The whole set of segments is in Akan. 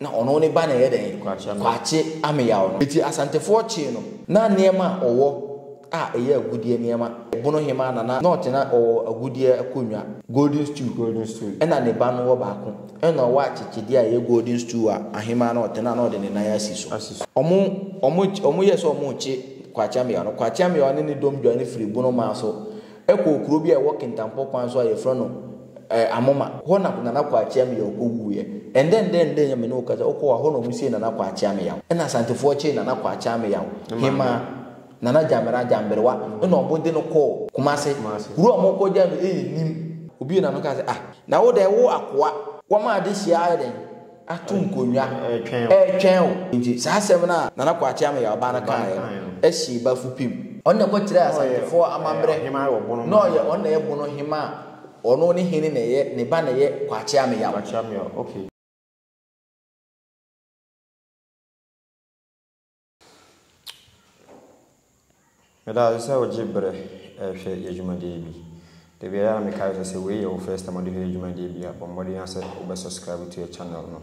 Na ɔno ne ba na ɛyɛ dɛn? Kwakye ameyaw no. Enti Asantefoɔ kyee no. Na nneɛma a ɔwɔ a ɛyɛ agudeɛ nneɛma, Bono Hemaa na na ɔte na ɔwɔ agudeɛ akonnwa, golden stool, ɛna ne ba no wɔ baako, ɛna ɔwɔ akyekyedeɛ a ɛyɛ golden stool a ahemaa na ɔte na na ɔde ne nan asi so. Wɔn, wɔn, wɔn yɛɛ sɛ wɔrekye Kwakye ameyaw no. Kwakye ameyaw ne ne dɔm dwane firii Bono Maa so. kɔɔ kuro bi a ɛwɔ Kintampo kwan so a yɛfrɛ no eh, Amoma. Hɔ na Nana Kwakye Ameyaw kɔwuiɛ. Ɛndɛndɛndɛn a me ne wo kasa, wokɔ hɔ a, hɔ na wɔsiee Nana Kwakye Ameyaw. Ɛna Asantefoɔ kyee Nana Kwakye Ameyaw, Ne maame. Hemaa, Nana Gyamera Gyamberewa, ɛna wɔde no kɔɔ Kumase. Kumase. Kuro a wɔkɔgyae no yɛ Nim. Obi na no kaa sɛ, Ah, na wo deɛ, wo akoa. Wɔma adehyeɛ ayɛ dɛn? ato nkonnwa retwɛn wo. Nti saa asɛm no a Nana Kwakye Ameyaɔba no kaeɛ no hyee Bafo pim. Ɔno na ɛkɔkyerɛɛ Asantefoɔ amammerɛ na ɔyɛ ɔno na ɛyɛ Bono hemma a ɔno ne hene na ɛyɛ ne ba na ɛyɛ Kwakye Ameyaɔba. Meda ase sɛ wogye berɛ hwɛ yɛn dwumadie bi. Da biara na mekae sɛ, sɛ wei yɛ wo first time a wode hwɛ yɛn dwumadie bi a, bɔ mmɔden ara sɛ wobɛ subscribe to yɛn channel no,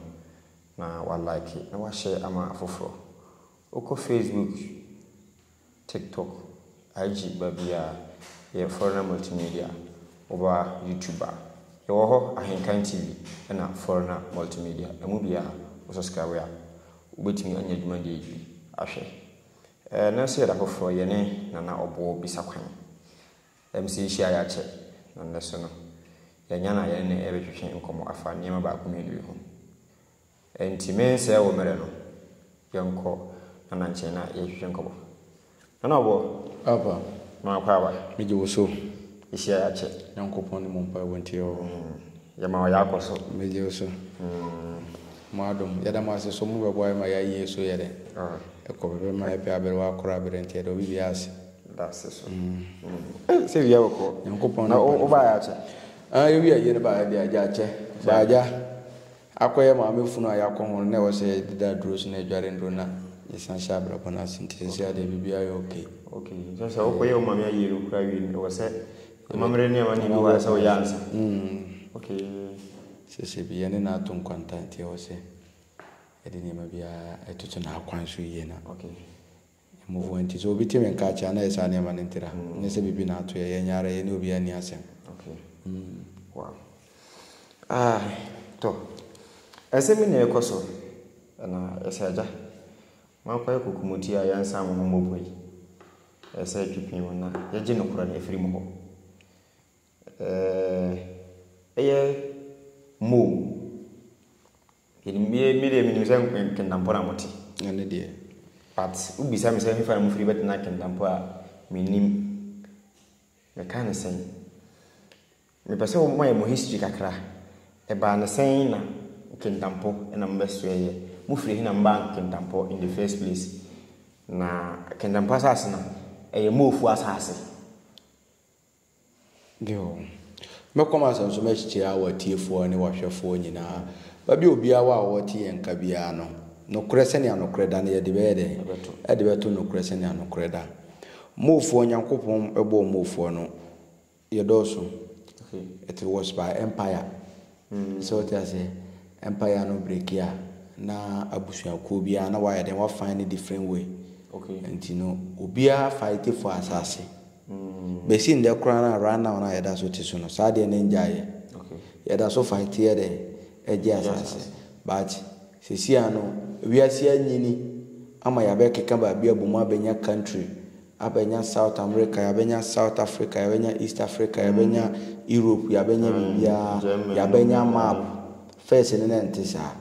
na wa like, na wa share ama afoforɔ. Wokɔ Facebook, TikTok, Agye ba bi a yɛ fɔr na multimedia wɔ ba YouTube a yɛwɔ hɔ Ahenkan TV na fɔr na multimedia ɛmu biaa wo subscribe a wo bɛtumi anya dwumadie yi bi ahwɛ ɛɛ na sɛ yɛda foforɔ yɛ ne Nana Ɔboɔ bisa kwan ɛm sɛ yɛhyia yɛ akyɛ na nnɛ so no yɛ anya na yɛne no ɛɛbɛtwetwe nkɔmɔ afa nneɛma baako mmienu bi ho Enti mensɛe wo mmere no, yɛnkɔ Nana nkyɛn na yɛnhwehwɛ nkɔmmɔ. Nana ɔboɔ. Aba. Maa kɔ aba. Megye wo so. Yɛhyia yɛ akyɛ. Nyankopɔn ne mo mpaebɔ nti ɔ. Yɛma ɔyɛ akɔ so. Megye wo so. Mo adom. Yɛda mo ase so mo bɛboa yɛ ma yɛ ayie so yɛ dɛn? Ɛkɔ pɛpɛ ma ɛpɛ aberewa akoro abere nti yɛda obi biara ase. Da ase so. Eh, sɛ wia wɔ kɔ. Nyankopɔn ne mpaebɔ. Na wo baa yɛ akyɛ. Ah, yɛ wia yie no baa yɛ deɛ agya akyɛ. Baa agya. Akɔyɛ maame funu a yɛakɔ ho no na ɛwɔ sɛ yɛde da aduro so na yɛdware nnuro na yɛsan hyɛ abrabɔ no ase nti seesei adeɛ biribiara yɛ okay. Okay nti sɛ wokɔ yɛ wo maame ayie no koraa wie no ɛwɔ sɛ amammerɛ ne amanneɛ bi wɔ a ɛsɛ woyɛ ansa? Mm. Okay. Seesei bi yɛne no ato nkwanta nti ɛwɔ sɛ yɛde nneɛma biara ɛtoto n'akwan so yie na. Okay. Mmofra nti, sɛ obi te me nka akyɛ a, na ɛyɛ saa nneɛma no ntira, ɛnyɛ sɛ biribi na ato yɛn. Yɛn nyɛ ara yɛne obiara nni asɛm. Okay. Mm. Wow. Ah, tɔ. Ɛsɛ me na ɛkɔ so. Ɛna ɛsɛ agya. Moakɔ yɛ kokomoti a yɛnsan mo ho mmɔ po yi. Ɛsɛ ɛtwe pin mu na yɛgye nokorɛ no afiri mo hɔ. Ɛɛ, ɛyɛ Mo. Yɛnim me me deɛ menim sɛ Kentampɔ na mote. Ɛne deɛ. But wobisa me sɛ hefa na mofiri bɛtena Kentampɔ a mennim. Meka ne sɛn. Mepɛ sɛ wɔma yɛ mo history kakra. Ɛbaa ne sɛn na Kentampɔ na mobɛsoɛeɛ. Mofiri he na mobaa Kentampɔ in the first place. Na Kentampɔ asase no ɛyɛ Moofoɔ asase. Bio. Mɛkɔ m'asɛm so m'akyikyiri a w'atiefoɔ ne w'ahwɛfoɔ nyinaa bɛbɛ obiara wɔ a ɔte yɛn nka biara no nokorɛ sɛnea nokorɛ da na yɛde bɛyɛ dɛn? Yɛde bɛto nokorɛ sɛnea nokorɛ da. Moofoɔ Nyankopɔn bɔɔ moofoɔ no, yɛdɔɔso, it was by empire. So wote aseɛ? Empire no break a, na abusuakuo biara na wɔayɛ dɛn? Wɔafan no different way. Nti no, obiara fight for asase. Bɛsi nnɛ koraa no a, right now no a yɛda so te so no, saa adeɛ no annyaaeɛ. Yɛda so fight yɛ dɛn? Gye asase. But seesei ano, wiase anyini ama yɛabɛkeka baabi abom abɛnya country. Abɛnya South America, yɛabɛnya South Africa, yɛabɛnya East Africa, yɛabɛnya Europe, yɛabɛnya biribiara, yɛabɛnya map. First no na ɛnte saa.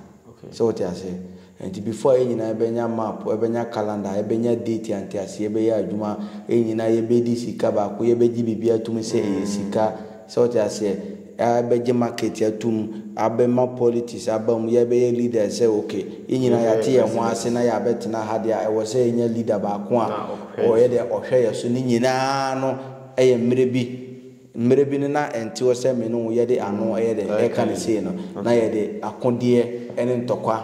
Sɛ wote aseɛ? Nti before a yɛn nyinaa bɛnya map, bɛnya calendar, bɛnya date a nteaseɛ bɛyɛ adwuma, yɛn nyinaa yɛbɛdi sika baako, yɛbɛgye biribiara atum sɛ ɛyɛ sika. Sɛ wote aseɛ? Yɛabɛgye market atum, abɛma politics aba mu, yɛbɛyɛ leaders sɛ ok, yɛn nyinaa yɛate yɛn ho ase na yɛabɛtena ha deɛ a, ɛwɔ sɛ yɛnya leader baako a ɔyɛ dɛ ɔhwɛ yɛn so. Ne nyinaa no yɛ mmerɛ bi, mmerɛ bi no na ɛnte hɔ sɛ me ne wo yɛde ano yɛ dɛ ɛreka no sei no, na yɛde akodeɛ ne ntɔkwa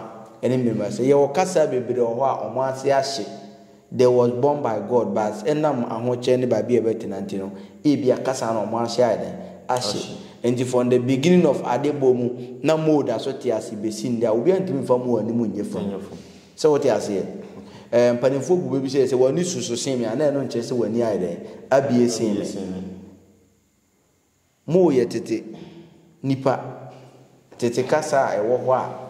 ne mmɛmmuaseɛ. Yɛwɔ kasa bebree wɔ hɔ a wɔn ase ahye. They was born by God but ɛnam ahokyerɛ ne baabi a ɛbɛtena nti no, ebia kasa no wɔahyɛ ayɛ dɛn? Ahye. Enti from the beginning of ade bɔ mu na Mo da so te ase besi nnɛ a, obiara ntumi mfa Mo anim nyɛ funu. Sɛ wote aseɛ? Ɛɛ, mpanimfoɔ bu bɛ bisa yɛ sɛ, W'ani susu sen me a? Na ɛno nkyerɛ sɛ w'ani ayɛ dɛn? Abue sen me. Moo yɛ tete nipa, tete kasa a ɛwɔ hɔ a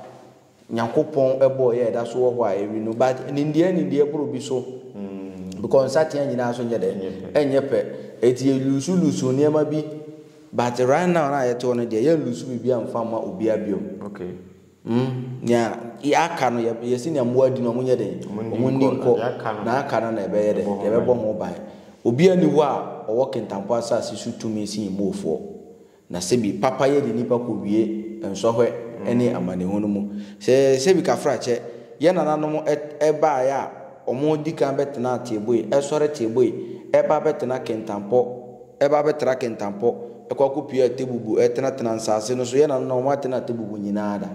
Nyankopɔn bɔɔ yɛ a ɛda so wɔ hɔ a ɛwe no but nimdeɛ nimdeɛ boro bi so because nsateaa nyinaa nso nyɛ dɛ ɛnyɛ pɛ ɛti yɛ lusu lusu nneɛma bi but right now no a yɛte hɔ no deɛ yɛn lusu biribi a mfa mma obiara biom. Okay. Hmm, nea yɛaka no, yɛ- yɛse nea mmoa di no, wɔn nyɛ dɛn? Wɔn nni Wɔn nni nkɔ. nkɔ. Nea aka no, Na aka no na ɛbɛyɛ dɛn? yɛbɛbɔ ho Yɛbɛbɔ ban. ho ban. Obiara nni hɔ a ɔwɔ Kentapo asase so tumi sen Moofoɔ. Na sɛbi, papayɛ de nnipa kɔwie nsɔhwɛ ne amanehunu mu. Sɛ sɛbi Kafrakyɛ, yɛn nananom ɛ- baeɛ a, wɔdi kan bɛtenaa Teeboe, ɛsɔre Teeboe, ɛba abɛtena Kentapo, ɛba bɛtra kentampɔ, ɛkɔ akɔpue atebubu, ɛtenatena nsase no so. Yɛn nanom no, wɔatena atebubu nyinaa da.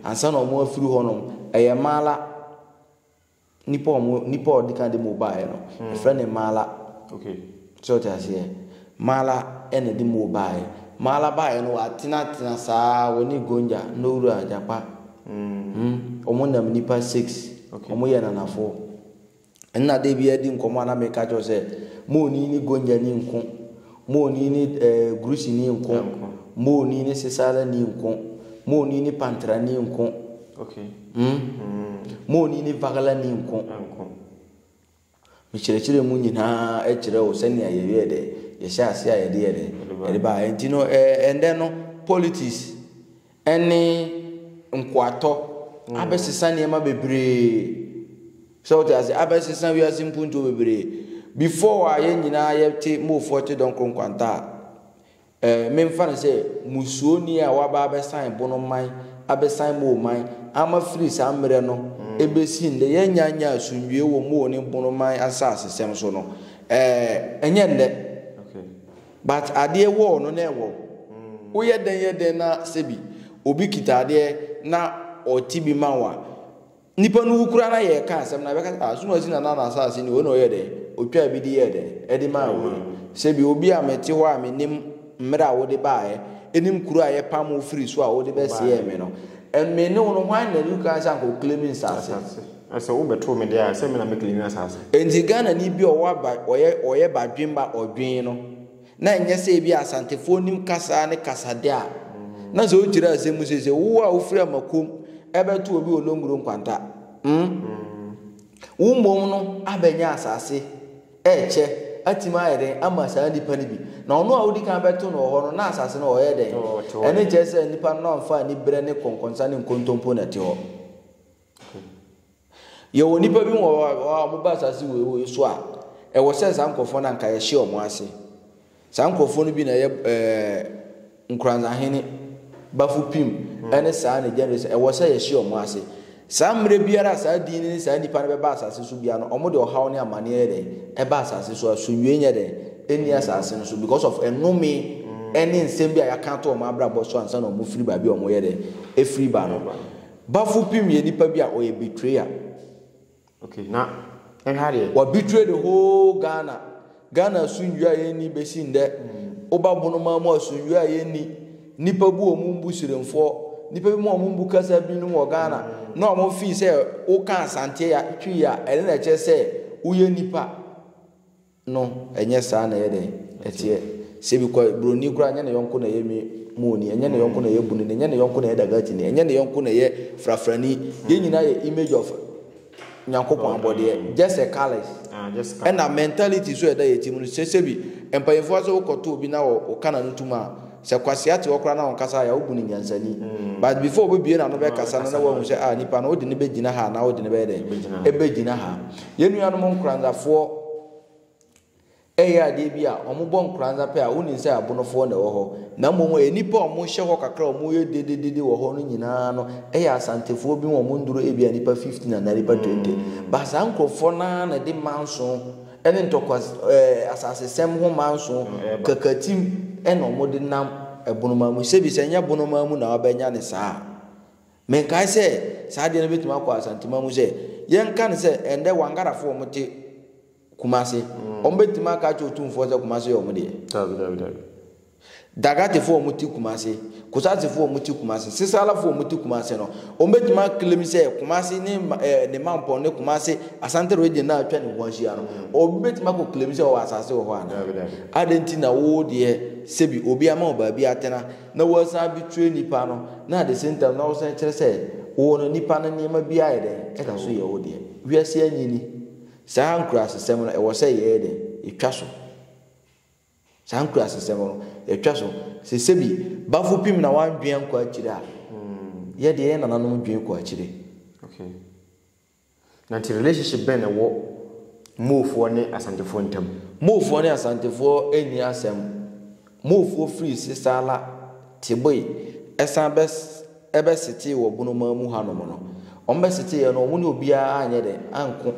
Ansa na wɔafiri hɔ no, ɛyɛ mala. Nnipa a wɔn nnipa a wɔdi kan de mo baeɛ no, ɛfrɛ no mala. Sɛ ɔte aseɛ, mala ɛna de mo baeɛ. Mala baeɛ no, wɔatenatena saa, wɔne Gonja, Nowura, Gyapa. Hmm, wɔn nam nnipa six, wɔyɛ nanafoɔ. Nna da biara di nkɔmbɔ a na meka kyerɛ wo sɛ mo onii ne Gonyani nko, mo onii ne eh, Grusini nko, mo onii ne Sesarani nko, mo onii ne Pantrani nko, Okay. mm, Mm, mo onii ne Vagalani nko. ɛnko. Mekyerɛkyerɛ mu nyinaa kyerɛ wo sɛnea yɛyɛɛ dɛ, yɛhyɛɛ ase a yɛde yɛ dɛ, Yɛde ba. yɛde ba. Ɛnti no, eh, ɛndɛ no, politics ne nkoatɔ abɛsesa nneɛma bebree. Sɛ wote ase, abɛsesa wiase mpuntuo bebree. Before a yɛn nyinaa yɛte Mofoɔ te Dɔnkoro Nkwanta a, eh, memfa no sɛ musuoni a waba abɛsan Bono man, abɛsan Moo man, ama firi saa mmerɛ no ɛbɛsi nnɛ, yɛnnya nyɛ asomdwoeɛ wɔ Moo ne Bono man asasesɛm so no, eh, ɛnyɛ nnɛ. But adeɛ wɔɔ no na ɛwɔ. Wo yɛ dɛn yɛ dɛn na sɛbi obi kita adeɛ na ɔte bi ma wo a, nipa no wu koraa na yɛ reka asɛm no a, bɛka sɛ ah Sumasi Nana na asaase ni wei na ɔyɛɛ dɛn, ɔtwaa bi de yɛɛ dɛn, ɛde maa wei. Sɛbi obi a mete hɔ a menim mmerɛ a wode baeɛ, ɛnim kuro a yɛ pam wo firi so a wode bɛseɛɛ me no, me ne wo no hwan na ɛdi kan sɛ anka ɔclaim nsaase? Na sɛ wo bɛ too me deɛ a, sɛ me na me claim asaase. Nti Ghana ni bi a ɔwɔ aba ɔyɛ ɔyɛ badwemba ɔdwen no na nyɛ sɛ ebi a Asantefoɔ nim kasaa ne kasade a na sɛ ɔkyire asɛm mu sese wo a wo firi Amakom ɛbɛ to obi wɔ Longro Nkwanta mm wo mmom no abɛ nyɛ asaase ɛɛkyɛ atimi ayɛ dɛn ama saa nipa no bi na ɔno a wodi kan bɛ to no wɔ hɔ no na asaase no ɔyɛ dɛn ɛne kyerɛ sɛ nipa no na ɔnfa ani berɛ ne kɔnkɔnsa ne nkontompo na ɛte hɔ. Yɛwɔ nnipa binom wɔ hɔ a, wɔba asase wei wei so a, ɛwɔ sɛ saa nkurɔfoɔ no anka yɛhyɛ wɔn ase. Saa nkurɔfoɔ no bi na ɛyɛ ɛɛ nkuranzahene, bafupim, ɛne saa ne gyɛnɛrɛs. Ɛwɔ sɛ yɛhyɛ wɔn ase. Saa mmerɛ biara a saa din ne saa nnipa no bɛba asase so biara no, wɔn de ɔhaw ne amaneɛ yɛ dɛn? Ɛba asase so. Asomdwoeɛ nyɛ dɛn? Ɛnni asase no so because of nnome ɛne nsɛm bi a yɛaka ato wɔn abrabɔ so ansa na wɔfiri baabi a wɔyɛ dɛn? Ɛfiri ba no. Bafo Pim yɛ nipa bi a ɔyɛ betrayer. Okay na ɛha deɛ. Wa betray the whole Ghana. Ghana asomdwoe a yɛnni bɛsi ndɛ. Woba Bonomaa mu asomdwoe a yɛnni. Nipa bu wɔn mbu sirenfoɔ. Nipa bi mu wɔn mbu kasa bi nom wɔ Ghana. Na wɔn feel sɛ woka Asanteɛ ya, Twi ya, ɛno na ɛkyerɛ sɛ woyɛ nipa. no ɛnyɛ saa na ɛyɛ dɛn ɛteɛ sɛ bi kɔ broni koraa ɛnyɛ ne yɔnko na ɛyɛ mi muoni ɛnyɛ ne yɔnko na ɛyɛ bunini ɛnyɛ ne yɔnko na ɛyɛ dagatini ɛnyɛ ne yɔnko na ɛyɛ frafrani yɛn nyinaa yɛ image of nyankopɔn abɔdeɛ just a colours ɛna mentality so ɛda yɛ ti mu no sɛ sɛ bi mpanyinfoɔ sɛ wokɔto obi na ɔka na no tum a Sɛ kwasea te hɔ koraa na ɔnkasa ayɛ a wobu no nyansani. But before obebue n'ano bɛkasa no na woahu sɛ ah nipa no wode no bɛgyina ha anaa wode no bɛyɛ dɛn? Ɛbɛgyina ha. Yɛn nuanom nkoranzafoɔ ɛyɛ adeɛ bi a wɔbɔ nkoranza pɛ a wonim sɛ abonofoɔ na ɛwɔ hɔ. Na mmom ɛyɛ nnipa a wɔhyɛ hɔ kakra a wɔyɛ dededede wɔ hɔ no nyinaa no ɛyɛ asantefoɔ bi wɔn nnuru ebia nnipa 15 anaa nnipa 20. But saa nkorɔfoɔ no ara na ɛde manso ne ntɔkwa ɛɛ asasesɛm nhoma nson kakatim na wɔde nam bonoma mu. Sɛbi sɛ ɛnyɛ bonoma mu na wabɛnya no saa a, menkae sɛ saa adeɛ no bɛtumi akɔ Asantema mu sɛ, yɛnka no sɛ ɛnnɛ Wangarafo a wɔte Kumase, wɔbɛtumi aka akyerɛ Otumfoɔ sɛ Kumase yɛ wɔn deɛ? Daabi, daabi, daabi. Dagatefo a wɔte Kumasi, Kusasifo a wɔte Kumasi, Sisalafo a wɔte Kumasi no, wɔbɛtumi aclaim sɛ Kumasi ne ne mampɔn ne Kumasi Asante region no a atwa ne ho ahyia no, obi bɛtumi akɔ claim sɛ ɔwɔ asase wɔ hɔ anaa? Adɛn nti na wo deɛ sɛbi obi ama wo baabi atena na woasan abɛtwerɛ nipa no na at the same time na wosan kyerɛ sɛ wo no nipa no nneɛma bi ayɛ dɛn ɛda so yɛ wo deɛ? Wiase anyini. Saa nkurasesɛm no ɛwɔ sɛ yɛyɛ dɛn? Yɛtwa so. Saa nkurasesɛm no, yɛtwa so sɛ sɛbi Bafo pim na w'andwen ankɔ akyire a, yɛ deɛ yɛ nananom dwen kɔ akyire. Okay. Na nti relationship bɛn na ɛwɔ Moofoɔ ne Asantefoɔ ntam? Moofoɔ ne Asantefoɔ nni asɛm. Moofoɔ firi Sesala, Teboe, ɛsan bɛ ɛbɛ setee wɔ Bonomaa mu hanom no. Wɔn bɛ seteeɛ no, wɔn ne obiara anyɛ dɛ, anko.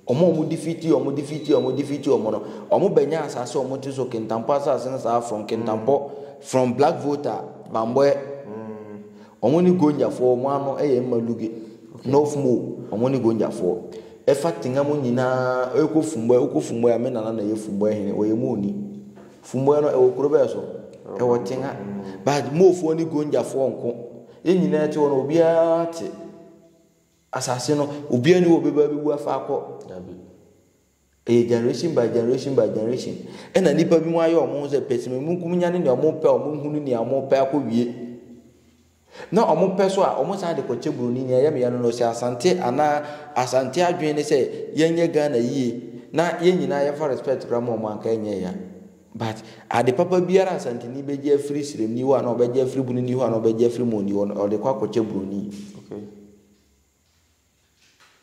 Wɔn a wɔdifiti wɔn difiti wɔn difiti wɔn no, wɔbɛnya asase a wɔte so, Kintampo asase no saa from Kintampo, from Black Volta, Bambɔɛ, wɔn ne Gonjafoɔ, wɔn ano yɛ mma Luge, North Mo, wɔn ne Gonjafoɔ. Ɛfa Tenga mu nyinaa, ɛkɔ Fumbɔɛ, wokɔ Fumbɔɛ a, me nana na ɛyɛ Fumbɔɛ hene, wɔyɛ Moni. Fumbɔɛ no, ɛwɔ kuro bɛɛ so, ɛwɔ Tenga. But Mofoɔ ne Gonjafoɔ nko, yɛn nyinaa te hɔ no, obiara te. Asase no obiara ni hɔ ɔbɛba abɛbu afa akɔ. Dabi. Ɛyɛ generation by generation by generation. Ɛna nnipa bi mu ayɛ wɔn ho sɛ pɛsimamunkum nya ne nea wɔn pɛ a wɔn hunu nea wɔn pɛ akɔ wie. Na wɔn pɛ so a wɔn san de kɔkyɛ buroni nea yɛmeyɛ no na ɔsi asante anaa asante adwene ne sɛ yɛnyɛ Ghana yie na yɛn nyinaa yɛmfa respect kora ma wɔn anka ɛnyɛ ya. But ade papa biara a Asanteni bɛgye afiri Siremni hɔ anaa ɔbɛgye afiri Bunini hɔ anaa ɔbɛgye afiri Moni hɔ no, ɔde kɔ akɔkyɛ Buroni. Okay.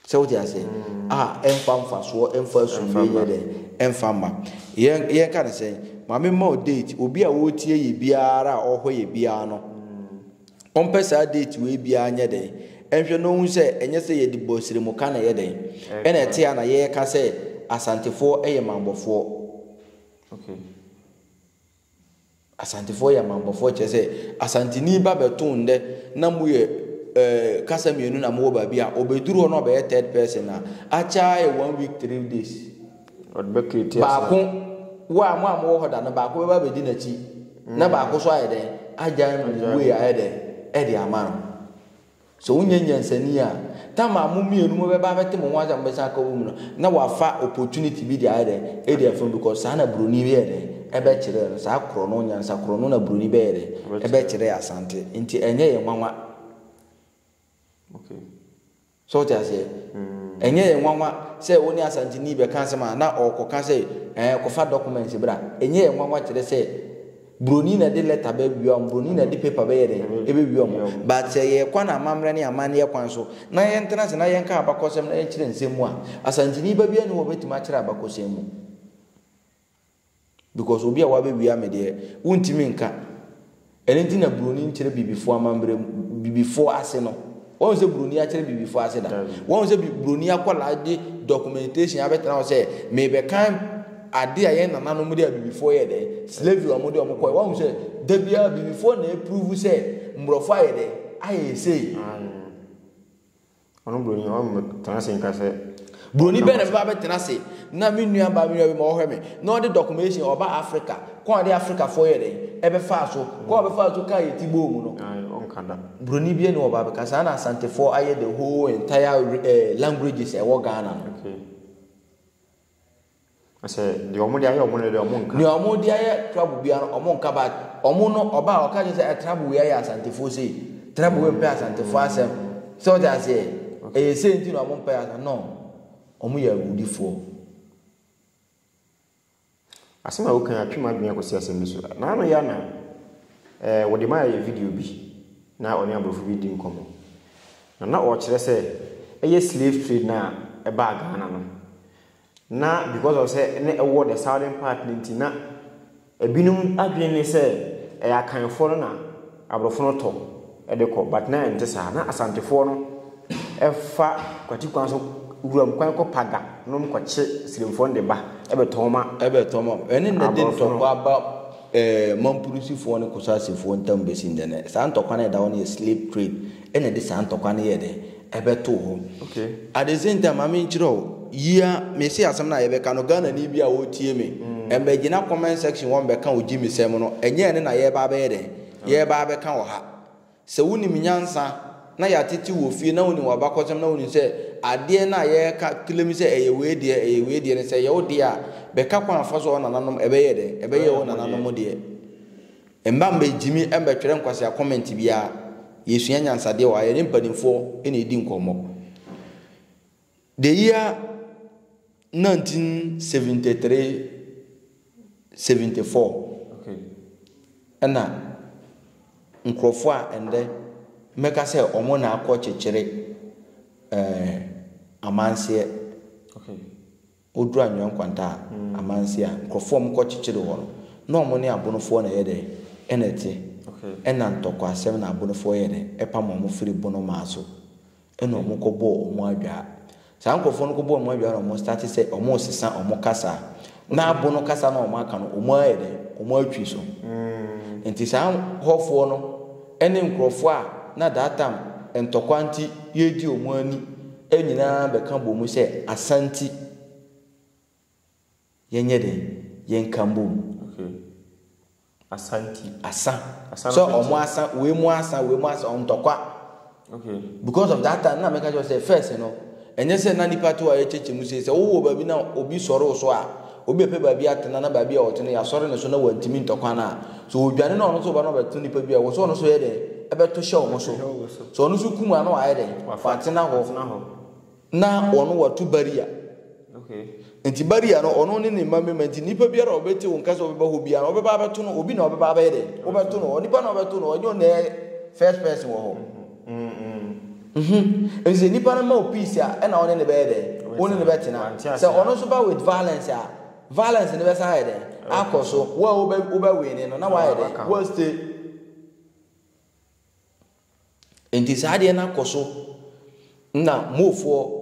Sɛ wote ase? Mm. A ɛmfa mfasoɔ, ɛmfa asomdwe nyɛ dɛ, ɛmfa mma. Yɛn yɛnka no sɛn? Maame mma o date, obi a ɔretie yɛ biara a ɔhɔ yɛ biara no, ɔmpɛ saa date wei biara nyɛ dɛn? Ɛnhwɛ na ɔhu sɛ ɛnyɛ sɛ yɛde bɔ siremu ka na ɛyɛ dɛn? Ɛna ɛte a na yɛreka sɛ Asantefoɔ yɛ mammɔfoɔ. Okay. Asantefoɔ yɛ amammɔfoɔ kyerɛ sɛ Asanteni ba bɛto ndɛ na mo yɛ ɛɛ eh, kasa mmienu na mo wɔ baabi a ɔbɛduru hɔ na ɔbɛyɛ third person a akyɛ ayɛ one week three days. Ɔde bɛ create asante. Baako wo a mo a mo wɔ hɔ da no baako bɛba abɛdi n'akyi na mm. baako so ayɛ dɛn agya no way ayɛ dɛn ɛde ama no. Sɛ wonyɛ nyansani a, tam a mo mmienu mo bɛba abɛte mo ho ase a mo bɛsan aka wɔ mu no, na wafa opportunity bi de ayɛ dɛ, edi afam because saa na broni bɛyɛ dɛ, ɛbɛkyerɛ no, saa korɔ no, nyansa korɔ no na broni bɛyɛ dɛ, ɛbɛkyerɛ Asante. Nti ɛnyɛ yɛn nwanwa. Okay. So wote aseɛ? Mm. Ɛnyɛ yɛn nwanwa sɛ wo ne Asanteni bɛka asɛm a na ɔrekɔka sɛ ɛɛ kɔfa documents bra. Ɛnyɛ yɛn nwanwa kyerɛ sɛ Broni na ɛde lɛta bɛ wia wɔn, broni na ɛde paper bɛyɛ dɛn? Ɛbɛ wia wɔn. But sɛ yɛ kɔ no amammerɛ ne amanneɛ kwan so, na yɛn tena ase na yɛn ka abakɔsɛm na yɛn kyerɛ nsɛm mu a, Asanteni ba biara nni hɔ a ɔbɛtumi akyerɛ abakɔsɛm mu. Because obi a wabɛ wia me deɛ, wo ntumi nka. Ɛno nti na broni nkyerɛ bibifoɔ amammerɛ mu, bibifoɔ ase no. Woahu sɛ buroni akyerɛ bibifo ase da? Woahu sɛ buroni akwadaa de documentation abɛtena hɔ sɛ merebɛkan ade a yɛn nananom de abibifoɔ yɛ dɛ slavery a wɔde wɔn kɔɛ woahu sɛ da biara abibifoɔ na ɛpuruvu sɛ mborɔfo ayɛ dɛ ayɛ sei. Ɔno buroni ɔno tena ase nka sɛ. Buroni bɛn na mɛfa abɛtena ase na me nua baa me nua bi ma ɔhwɛ me na ɔde dɔkumehyin ɔba Afrika kwan a ɔde Afrikafoɔ yɛ dɛn ɛbɛfaa so, kwan a ɔbɛfaa so kaa yɛn ti bɔɔ mu no. Buroni biara nni hɔ ɔba abɛka saa na Asantefoɔ ayɛ the whole entire languages a ɛwɔ Ghana no. Ɔsɛ deɛ wɔn de ayɛ wɔn no deɛ wɔn nka. Deɛ wɔn de ayɛ trouble bia no wɔn nka but wɔn no ɔba a ɔka kyerɛ sɛ ɛ trouble wei ayɛ asantefoɔ sei trouble wei mpɛ asantefoɔ asɛm sɛ ɔte aseɛ ɛyɛ sei nti na wɔn mpɛ asɛm no wɔn yɛ awudifoɔ. Asɛm a wokan atwe m'adwene akɔsi asɛm bi so na ano yɛ na ɛɛ wɔde maa yɛ video bi na ɔne aborɔfo bi di nkɔmmɔ na na ɔrekyerɛ sɛ ɛyɛ slave trade na ɛbaa Ghana no. na because of sɛ na ɛwɔ the southern part no nti na ebinom adwene ne sɛ ɛyɛ akanfoɔ no na aborɔfo no tɔ de kɔ but na ɛnte saa na asantefoɔ no ɛfa kwati kwan so wuram kwan kɔ paga nom kɔkye sirimfoɔ no de ba ɛbɛtɔn ma ɛbɛtɔn ma ɛne na de ntɔkwa aba ɛɛ mampurusifoɔ ne kosasefoɔ ntam bɛsi ndɛ no saa ntɔkwa no ɛda hɔ no yɛ slave trade na ɛde saa ntɔkwa no yɛɛ dɛn? Ɛbɛtoo hɔ. Okay, at the same time ma me nkyerɛ wo, yi ara, mese asɛm no a yɛbɛka no, Ghanani bi a ɔretie me, mmɛgyina comment section hɔ mmɛka wo gyimisɛm no, ɛnyɛ ɛno na yɛreba abɛyɛ dɛn? Yɛreba abɛka wɔ ha. Sɛ wonim nyansa, na yɛatete wo wɔ fie, na wonim w'abakɔsɛm, na wonim sɛ adeɛ no a yɛreka claim sɛ ɛyɛ wei deɛ, ɛyɛ wei deɛ no, sɛ ɛyɛ wo deɛ a, bɛka kwan fa so a wo nananom, ɛbɛyɛ dɛn? Ɛbɛyɛ wo nananom deɛ. Mma mɛgyimi mɛtwerɛ nkwasea comment biara, yɛsua nyansadeɛ wɔ ha, yɛne mpanimfoɔ na ɛdi nkɔmmɔ. The year 1973, 74 ɛna nkurɔfoɔ a ɛndɛ mɛka sɛ wɔn na akɔ kyekyere ɛɛ amanseɛ. Wɔduru Anwea Nkwanta a, amanse a nkorɔfoɔ a wɔn kɔ kyekyere hɔ no, na wɔn ne Abonofoɔ na ɛyɛ dɛn? Ɛna ɛte. Ɛna ntɔkwasɛm na Abonofoɔ yɛɛ dɛn? Ɛpam wɔn firi Bonomaa so. Ɛna wɔn kɔ bɔɔ wɔn adwaa. Saa nkorɔfoɔ no kɔ bɔɔ wɔn adwaa na wɔn starte sɛ wɔn resesa wɔn kasa. Na Abono kasa no a wɔn aka no, wɔn ayɛ dɛn? Wɔn atwi so. Nti saa hɔfoɔ no ne nkorɔfoɔ a na that time ntɔkwa nti yɛredi wɔn ani. nyinaa bɛka bɔ mu sɛ Asanti. Yɛnyɛ den, yɛnka mbom. Okay. Asanti. Asa. Asa so ɔmo asa, wei mu asa, wei mu asa, ɔmo ntɔkwa. Okay. Because of that time, na mɛka kyerɛ sɛ first no, ɛnyɛ sɛ na nipa to a yɛkyɛkyɛ mu sei sɛ wowɔ baabi na obi sɔre wo so a, Obi bɛpɛ baabi atena na baabi a ɔte no yɛasɔre ne so na wantumi ntɔ kwan a, sɛ ɔdwane na ɔno nso ba na ɔbɛto nnipa bi a, ɛwɔ sɛ ɔno nso yɛ dɛn? Ɛbɛto hyɛ wɔn so. Sɛ ɔno nso kum a, na wayɛ dɛn? Watena hɔ. Na ɔno watu baria. Nti baria no, ɔno ne ne mma mmarima. Nti nnipa biara a ɔbɛtie wo nka sɛ ɔbɛba hɔ biara no, wobɛba abɛto no, obi na ɔbɛba abɛyɛ dɛn? Wobɛto no. Onipa na ɔbɛto no, ɛnyɛ ɔno na ɛyɛ first person wɔ hɔ. Nhu. Enti sɛ nipa no ma wo peace a, ɛna wo ne no bɛyɛ dɛn? Wo ne no bɛtena. Sɛ ɔno nso ba with violence a, violence no bɛsan ayɛ dɛn? Akɔ so. Wo a wobɛ wobɛwine no, na woayɛ dɛn? Woastay. Enti saa adeɛ no akɔ so na mofoɔ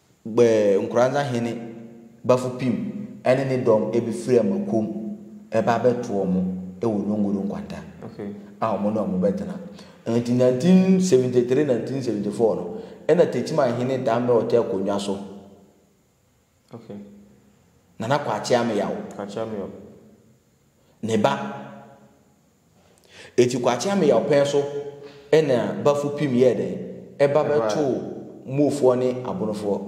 Gbɛɛ Nkoranza Hene Bafupim ne ne dɔm bi firi Amakuom reba abɛto wɔn wɔ Nyongoro nkwanta a wɔn ne wɔn bɛtena. Enti 1973, 1974 no, na Techiman Hene dan bɛ ɔtɛ akonnwa so. Nana Kwakye Ameyaw, ne ba. Enti Kwakyeame yaw pɛn so na Bafupim yɛɛ dɛn? Ɛba bɛtoo Moofoɔ ne Abonofoɔ.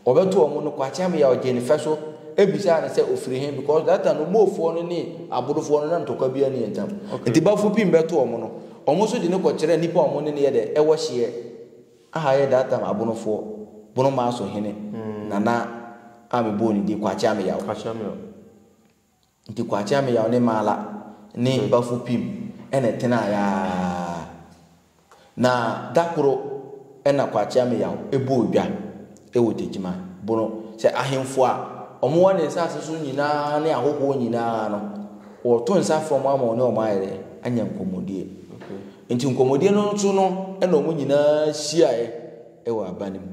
Wɔbɛtoo wɔn no, Kwakyeame yaw gyee ne fɛ so bisaa no sɛ ɔfiri he because that time no Moofoɔ no ne Abonofoɔ no na ntɔkwa biaa nni wɔn ntam. Enti Bafupim bɛtoo wɔn no, wɔn nso de no kɔkyerɛɛ nnipa a wɔn ne no yɛ dɛn? Wɔ hyeɛ a ɛyɛ that time Abonofoɔ, Bonomaa so hene, Nana a mebɔɔ ne din, Kwakyeame yaw. Kwakyeame yaw. Nti Kwakyeameyaw ne Maala ne Bafupim na ɛtenae ara. Na da koro na Kwakyeameyaw bɔɔ dwa wɔ Gyegyima Bono sɛ ahemfo a wɔwɔ ne nsase so nyinaa ne ahɔhoɔ nyinaa no, wɔreto nsa frɛ wɔn ama wɔne wɔn ayɛ dɛ? Anya nkɔmmɔdie. Nti nkɔmmɔdie no so no na wɔn nyinaa hyiaeɛ wɔ aba no mu.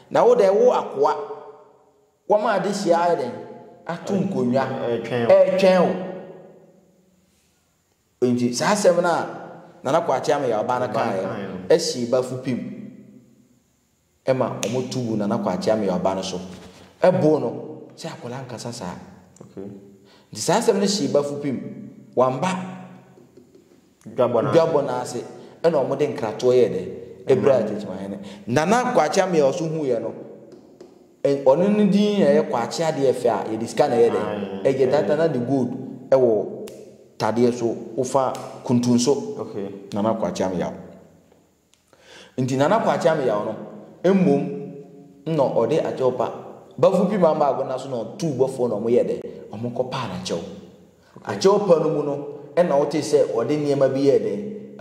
Na wo dɛ wo akoa, wɔma adehyeɛ ayɛ dɛn? Ato nkonnwa retwɛn wo. Enti saa asɛm no a Nana Kwakye Ameyaw-Ba no kaeɛ no hyee Bafupem ma wɔto guu Nana Kwakye Ameyaw-Ba no so boo no sɛ akwadaa nkasa saa. Nti saa asɛm no hyee Bafupem, wamma dwabɔ no ase na wɔde nkratoɔ yɛɛ dɛ ɛbrɛɛ Agyekyemanhene. Nana Kwakye Ameah ɔso huiɛ no, ɔno no din na ɛyɛ Kwakye adeɛ fɛ a yɛde sika na ɛyɛ dɛ ɛyɛ dada na de gold wɔ tadeɛ so wofa kuntunso Nana Kwakye Ameah. Nti Nana Kwakye ameyaw no, mbom nna ɔde akyɛw pa bafo pi maa mbaa agona so na ɔtoo bɔfo hɔ na wɔyɛɛ dɛ, wɔkɔpaa n'akyɛw. Akyɛw pa no mu no nna wotsee sɛ ɔde nneɛma bi yɛɛ dɛ,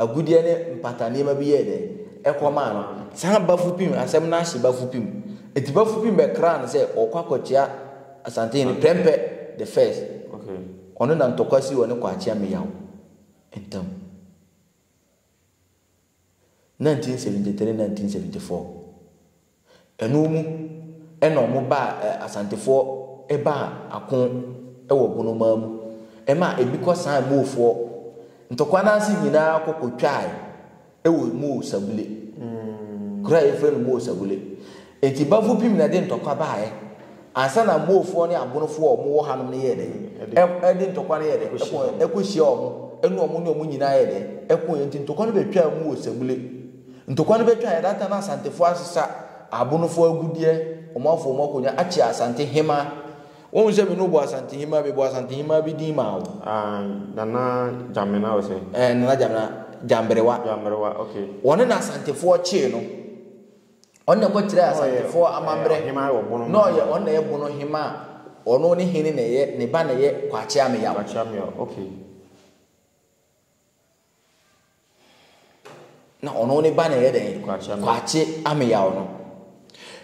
agudeɛ ne mpata nneɛma bi yɛɛ dɛ, kɔmaa no. Saa bafo pi, asɛm no ahyɛ bafo pi mu. Nti bafo pi bɛkraa no sɛ ɔkɔ akɔkyea Asantehene Prɛmpɛ the First. Ɔno na ntɔkwa sii ɔne Kwakye ameyaw ntamu. Nineteen seventy three nineteen seventy four ɛno mu ɛna wɔn baa ɛ asantefoɔ ɛbaa ako ɛwɔ bonomaa mu ɛma ebi kɔ san moofoɔ ntɔkwa n'ase nyinaa kɔ kɔ twaae ɛwɔ moo sabule kura yɛfrɛ no moo sabule eti bafo pim na ɛde ntɔkwa baaɛ Ansa na Moofoɔ ne Abonofoɔ a wɔwɔ hanom no yɛɛ dɛn? De ntɔkwa no yɛɛ dɛn? Ɛkɔɔɛ kɔhyiaa wɔn, ɛne wɔn ne wɔn nyinaa yɛɛ dɛn? Ɛkooɛ, enti ntɔkwa no bɛtwaa mu wɔ Sɛmule. Ntɔkwa no bɛtwaaɛ, that time na Asantefoɔ asesa Abonofoɔ agudeɛ, wɔn afo wɔn akonnwa, akyea Asante Hemaa. Wohu sɛ me ne wo bɔɔ Asante Hemaa, mebɔɔ Asante Hemaa bi din maa wo? Aah, Nana Gyamena or sɛn? Ɛɛ, Nana Gyamena, Gyamberewa. Gyamberewa, okay. Wɔne no Asantefoɔ kyee no. Ɔno na ɛkɔkyerɛɛ Asantefoɔ eh, amammerɛ na ɔyɛ ɔno na ɛyɛ bono hema a ɔno ne hene na ɛyɛ ne ba na ɛyɛ Kwakye Ameyaw. Kwakye Ameyaw, okay. Na ɔno ne ba na ɛyɛ dɛn? Kwakye Ameyaw no.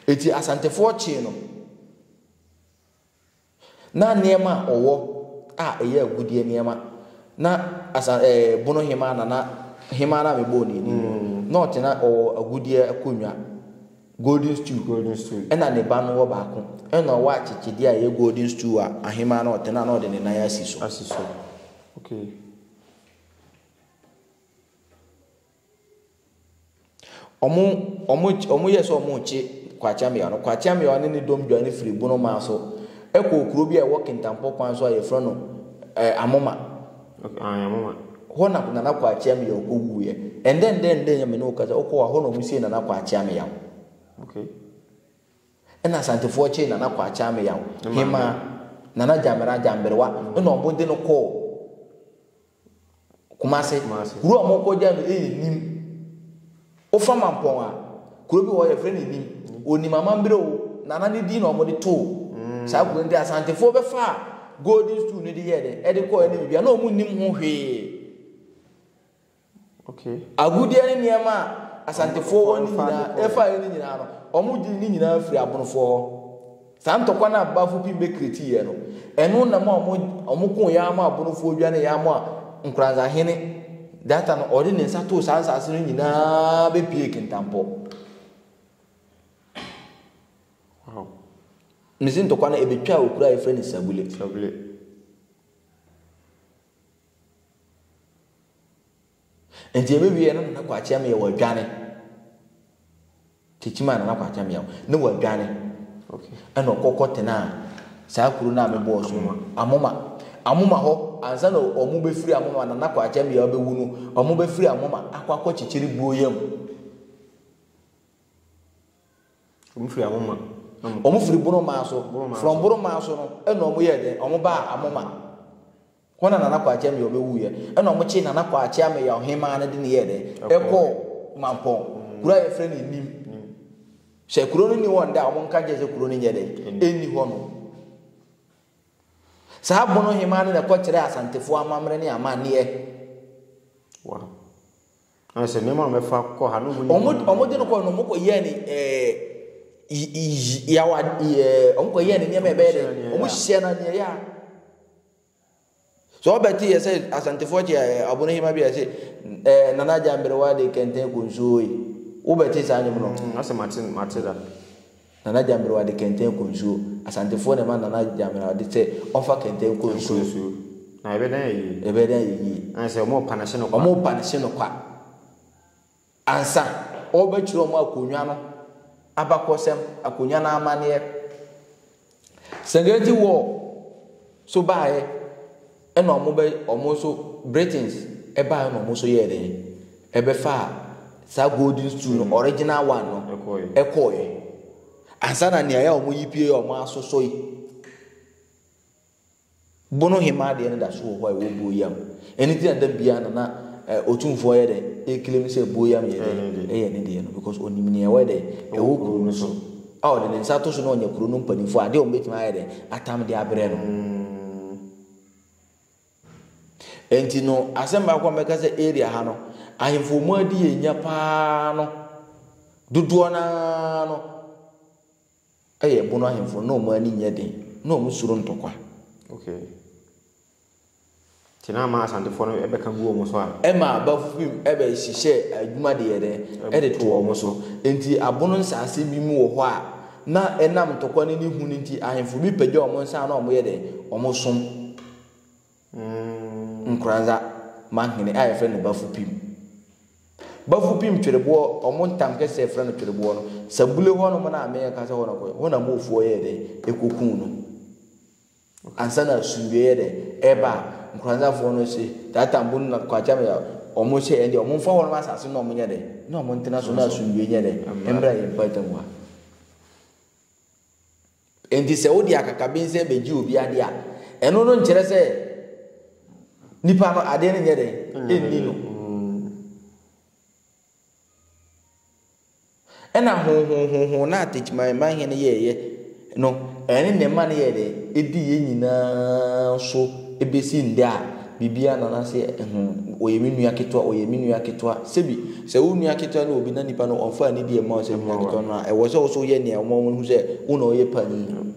Eti Asantefoɔ kyee no. Ná nneɛma a ɔwɔ a ɛyɛ agudeɛ nneɛma, na asa ɛɛ bono hemaa na na hemaa no a mebɔɔ no ani no, na ɔte na ɔwɔ agudeɛ akonnwa, golden stool, golden stool, ɛna ne ba no wɔ baako, ɛna ɔwɔ akyekyedeɛ a ɛyɛ golden stool a ahemaa no ɔte na na ɔde ne nan asi so. Asi so. Okay. Ɔmo ɔmo ɔmo yɛ sɛ ɔmo rekye Kwakyammeaw no. Kwakyammeaw ne ne dɔm dwane firi Bonomaa so kɔɔ kuro bi a ɛwɔ Kintampo kwan so a yɛfrɛ no ɛɛ Amoma. Okay, ah, Amoma. Hɔ na Nana Kwakyammeaw kɔ wuiɛ. Ɛndɛ ɛndɛ ɛndɛ yɛ me ne wo kasa wokɔ hɔ a hɔ na ɔmo sie Nana Kwakyammeaw. Okay. Ɛna Asantefoɔ kyee Nana Kwakyammeaw. Hemaa Nana Gyamera Gyamberewa ɛna ɔmo de no kɔɔ Kumase. Kumase. Kuro a wɔkɔgya no yɛ Nim. Wofa Mampɔn a, kuro bi wɔ hɔ yɛfrɛ no Nim. Onim amambere o, nana ne din na wɔde too mm. saa kuro nti Asantefoɔ bɛfa a Golden Stool no de yɛ dɛ ɛde kɔɔ ɛne biribi a na wɔn nim ho hwee. Okay. Agudeɛ ne nneɛma a Asantefoɔ wɔ ne nyinaa ɛfa ne nyinaa no wɔn gye ne nyinaa firi abonofoɔ hɔ. Saa ntɔkwa no a Bafo pii bɛkreti yɛ no, ɛno na ma wɔn wɔn koo yɛ ara ma Abonofoɔ dwane yɛ ara ma Nkoranza hene Data no ɔde ne nsa too saa nsaase no nyinaa bɛpuee Kintampɔ. Wow. Me se ntɔkwa no ɛbɛtwaa okura a yɛfrɛ no Sabule. Sabule. Nti ɛbɛwieɛ no Nana Kwakye Ameyaw adwane. Kyekye maa Nana Kwakye Ameyaw ne wadwane ɛna ɔkɔ kɔ tenaa saa kuro no a mebɔɔ so no Amoma. Amoma hɔ ansa na ɔmo bɛfiri Amoma Nana Kwakye Ameyaw bɛwu no ɔmo bɛfiri Amoma akɔ akɔ kyekyere Buoyam. Ɔmo firi Amoma na ɔmo. Ɔmo firi Boromaa so. Boromaa so. From Boromaa so no ɛna ɔmo yɛɛ dɛn ɔmo baa Amoma. Hɔ na Nana Kwakye Ameyaw bɛwuiɛ. Ɛna wɔkyee Nana Kwakye Ameyaw Hemaa no de no yɛɛ dɛn? Ɛkɔɔ Mampɔn, kuro a yɛfrɛ no Nim. Sɛ kuro no nni hɔ nnɛ a, wɔnka nkyerɛ sɛ kuro no nyɛ dɛn? Ɛnni hɔ no. Saa Bono Hemaa no na ɛkɔkyerɛɛ Asantefoɔ amammerɛ ne amanneɛ. Wow. Na sɛ nneɛma a wɔfa kɔ ha no mu ni. Wɔn wɔde no kɔ no wɔn kɔ yɛ ne ɛɛ yawa ɛɛ wɔn kɔ yɛ ne nneɛma ɛbɛyɛ dɛ wɔn hyɛ na nea ɛyɛ a. So wobɛte yɛ sɛ Asantefoɔ kyɛ eh, abonohema bi a ɛse eh, Nana Agya Mberewa de kɛntɛn konsuo yi? Wobɛte saa nnwom no? Mm, asɛ mate, mate da. Nana Agya Mberewa de kɛntɛn konsuo. Asantefoɔ na ɛma Nana Agya Mberewa de sɛ ɔmfa kɛntɛn konsuo. Na ɛbɛdan yɛ yie. Ɛbɛdan yɛ yie. Ɛna sɛ ɔmo pa no hye no kwa. Ɔmo pa no hye no kwa. Ansa ɔrebɛkyerɛ wɔn akonnwa no abakɔsɛm, akonnwa no amanneɛ, Serengeti War nso baeɛ, ɛna wɔn bɛ wɔn nso Britons baeɛ na wɔn nso yɛɛ dɛn? Ɛbɛfaa saa golden stool no, original one no, ɛkɔeɛ. Ansa na nea ɛyɛ wɔn yi pie yɛ wɔn asosɔ yi. Bono hemmaa adeɛ no da so wɔ hɔ a ɛwɔ Boyam. Ɛno nti na da biara no na eh, Otumfoɔ yɛ dɛ ɛclaim sɛ Boyam yɛ dɛ ɛyɛ ne deɛ no because ɔnim nea ɛwɔ dɛ ɛwɔ kuro no so a ɔde ne nsa ato so na ɔnyɛ kuro no mpanimfoɔ adeɛ a wɔbɛtumi ayɛ dɛ atam de abrɛ no. Ɛnti no asɛm baako a mɛka sɛ area ha no ahemfo mu adi yɛ nya paa no dodoɔ naa no Yɛ ɛbono ahemfo no na wɔn ani nyɛ den na wɔn suro ntɔkwa. Okay. Nti na ama Asantefoɔ no bɛka gu wɔn so a. Ɛma aba firi mu ɛbɛ hyehyɛ adwuma de yɛ dɛn ɛde to wɔn so. Nti abono nsaase bi mu wɔ hɔ a na ɛnam ntɔkwa no ne hu no nti ahemfo bi pagya wɔn nsa a na wɔn yɛ dɛn wɔn som. Nkoranza Manhene a wɔfrɛ no Bafupim. Bafupim twereboɔ, wɔn ntam kɛseɛ frɛ no twereboɔ no, Sabule hɔ nom no a mereka sɛ hɔ na ɔkɔeɛ, hɔ na Moofoɔ yɛɛ dɛn? Ɛkɔkuu no. Ansa na asomdwoeɛ yɛ dɛn? Ɛreba a, Nkoranzafoɔ no se, Tata Mbunu na Kwakya Mya, wɔn se ɛndeɛ wɔmfa hɔ nom asase no na wɔnyɛ dɛn? Na wɔntena so na asomdwoeɛ nyɛ dɛn? Mmra yɛn mpaatam ha. Enti sɛ wode akakabensɛm begye obi ade a, ɛno no nkyerɛ sɛ nipa no adeɛ no nyɛ dɛn? Ɛnni no. Ɛna honhonhonhon no a Techimanman hene yɛeɛ no, ɛne ne ma no yɛɛ dɛn? Ɛdi yɛn nyinaa so bɛsi nnɛ a. biribiara na na sɛ ɛho, ɔyɛ me nua ketewa, ɔyɛ me nua ketewa. Sebi, sɛ wo nua ketewa ne obi na nipa no ɔmfaa nidi ɛmma wo sɛ nua ketewa no a, ɛwɔ sɛ wo nso woyɛ nea ɛma wɔhu sɛ wo na ɔyɛ panyin.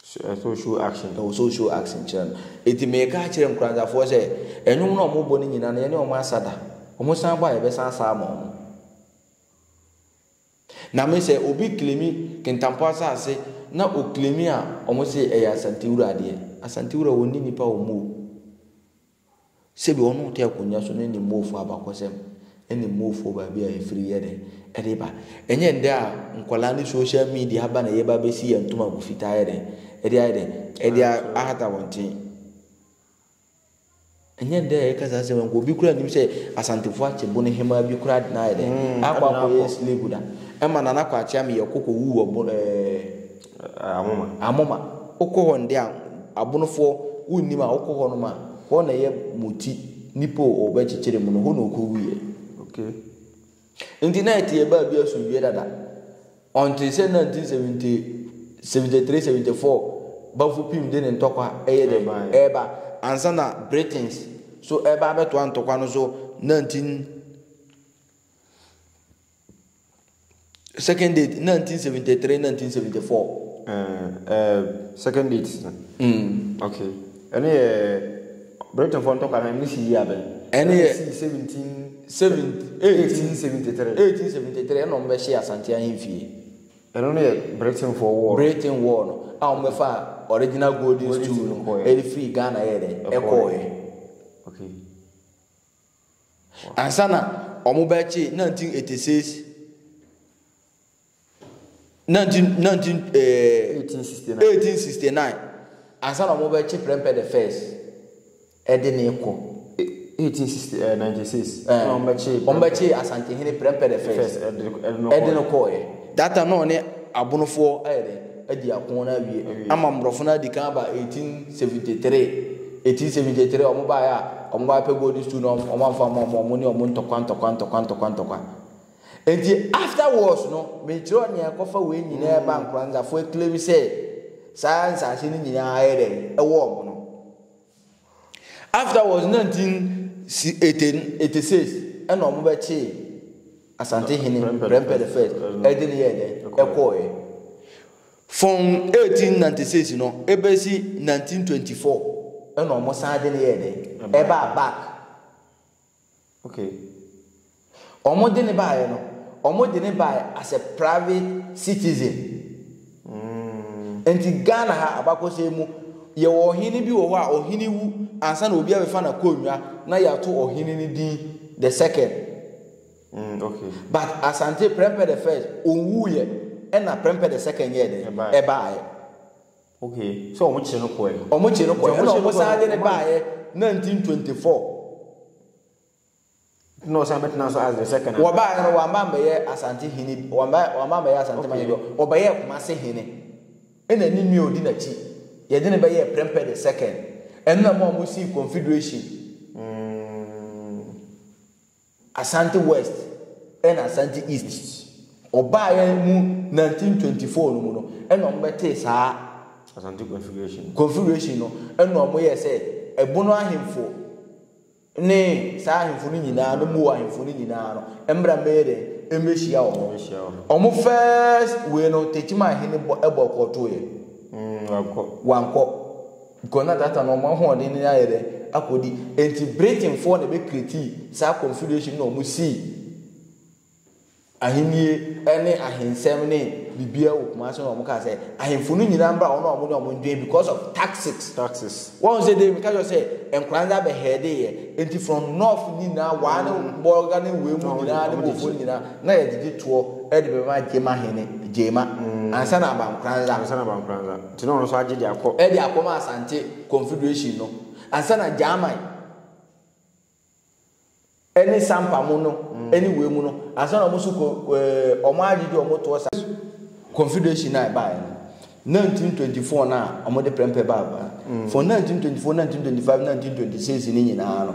Ɛsɛ sɛ show action. Ɛwɔ sɛ show action kyerɛ no. Enti meka akyerɛ nkuranzafoɔ sɛ, nnwom no a wɔbɔ no nyinaa no, yɛne wɔn asa da. Wɔsan bɔ a, yɛbɛsan asa ama wɔn. Na me sɛ obi claimi Kintampo asase na ɔclaimi a ɔmo se ɛyɛ Asantewura deɛ, Asantewura wɔ nni nnipa wɔ Moo. Sɛbi ɔno ɔte akonwa so no ɛnim Moofoɔ abakɔsɛm, ɛnim Moofoɔ baabi a ɛfiri yɛ dɛn ɛde ba. Ɛnyɛ ndɛ a nkwadaa ne social media aba na yɛba abɛsi yɛn ntoma agu fitaa ayɛ dɛn ɛde ayɛ dɛn ɛde ahata wɔn tee. Ɛnyɛ nnɛ a yɛka saa asɛm yi, anka obi koraa nnim sɛ Asantefo akyɛ Bono hemmaa bi koraa de no ayɛ dɛn? Akɔ akɔyɛ slave da. Ɛma Nana Kwakye Ameyɛ kɔ kɔwuu wɔ Bon ɛɛ Amoma. Amoma. Wokɔ hɔ nnɛ a, Abonofoɔ, wonnim a, wokɔ hɔnom a, hɔ na ɛyɛ Moti, Nipo, ɔbɛkyekyere mu no, hɔ na ɔkɔwuiɛ. Okay. Enti na ɛte yɛn baa bi asomdwoeɛ dada. Ɔntee sɛ 1973, 74 Banfo Pim de ne ntɔkwa ɛyɛ dɛn? Ɛreba. Ansa na Britons nso reba abɛtoa ntɔkwa no so 19 Second date 1973, 1974. Ɛɛ, ɛɛ, second date. Mm. Okay. Ɛno yɛ Britainfoɔ ntɔkwa no ɛno si yia bɛn. Ɛno yɛ ɛsi seventeen seventy eighteen seventy three eighteen seventy three ɛna wɔn bɛhyɛ Asante ahemfie. Ɛno no yɛ Britainfoɔ wɔɔ. Britain wɔɔ no a wɔn bɛfa original golden stool no ɛde firi Ghana yɛ dɛ ɛkɔɔɛ. Okay. Ansa na wɔn bɛkye nineteen eighty six. 19, 19, eh, 1869. 1869 ansa na wɔbɛkye prɛmpɛ the first ɛde ne kɔ 1896 eh, eh, na wɔbɛkye wɔbɛkye asantehene prɛmpɛ the first ɛde no kɔɔɛ that time na ɔne abonofoɔ ayɛ dɛ adi ako no awie ama mmorɔfo no adi kan aba 1873 1873 wɔn baeɛ a wɔn baeɛ pɛ gold stool na wɔn amfa ma wɔn ne wɔn ntɔkwa ntɔkwa ntɔkwa ntɔkwa ntɔkwa Enti afterwards no me kyerɛw nea ɛkɔfa wei nyinaa ba Nkoranzafo ɛclaim sɛ saa nsaase no nyinaa ayɛ dɛn ɛwɔ ɔmo no afterwards nineteen si eighty eighty six ɛna ɔmo bɛkyee Asante hene Prempeh the first ɛde no yɛɛ dɛn ɛkɔɔɛ from eighteen ninety six no ɛbɛsi nineteen twenty four ɛna ɔmo san de no yɛɛ dɛn ɛbaa back. Okay. Wɔn de no baeɛ no, wɔn de no baeɛ as a private citizen. Mm. Nti Ghana ha abakɔsɛm mu, yɛwɔ ɔhene bi wɔ hɔ a ɔhene wu ansa na obi abɛfa na konnwa na yɛato ɔhene no din the second. Mm, okay. But Asante Prempeh the first, ɔwuiɛ ɛna Prempeh the second yɛɛ dɛ ɛbaeɛ. Okay, sɛ ɔmo kye no kɔɛ no. Ɔmo kye no kɔɛ, ɛna ɔmo san de no baayɛ 1924. Na ɔsan bɛtena so as the second. Wɔbaayɛ no wɔama mbɛyɛ Asante hene, wɔama wɔama mbɛyɛ Asante man bi, ɔbɛyɛɛ Kumase hene. Ɛna ne nua odi n'akyi, yɛde no bɛyɛɛ Prempeh the second. Ɛno na ɛma ɔmo sii Confederation. Mm. Asante West na Asante East. Ɔbaeɛ mu 1924 no mu no na wɔbɛtee saa Asante Confederation Confederation no na wɔyɛɛ sɛ Ɛbono ahemfo ne saa ahemfo no nyinaa ne Moa ahemfo no nyinaa no mmra mmɛyɛ dɛn mmɛhyia wɔ hɔ. Mmɛhyia wɔ hɔ. Wɔn first wei no Techiman hene bɔ ɛbɔ kɔɔtoeɛ. Mm, wankɔ. Wankɔ. Because na that time no wɔn ahoɔden no ayɛ dɛ akɔdi nti Britain foɔ na ɛbɛ create saa confederation na wɔn sii ahennie ɛne ahensɛm ne biribiara wɔ Kumasi na wɔn kaa sɛ ahemfo no nyinaa mbra wɔn a wɔn ne wɔn ndwen because of taxes. Taxes. Wɔn sɛ dee meka kyerɛ sɛ nkwadaa no abɛ heade yɛ nti from north nyinaa waa ne bɔga ne wei mu nyinaa ne bofo no nyinaa na yɛgyegye toɔ ɛde bɛma gyema hene gyema ansa na abankwadaa. Ansa na abankwadaa. Nti na ɔno nso agye de akɔ. De akɔ ma Asante Confederation no ansa na Gyaman ne Sampa mu no ne wei mu no ansa na wɔn nso kɔ ɛɛ wɔn agye de wɔn toɔ sa. Confederation a ɛbaeɛ no, 1924 no a wɔde prɛmpɛ baa Ghana, for 1924, 1925, 1926 no nyinaa no,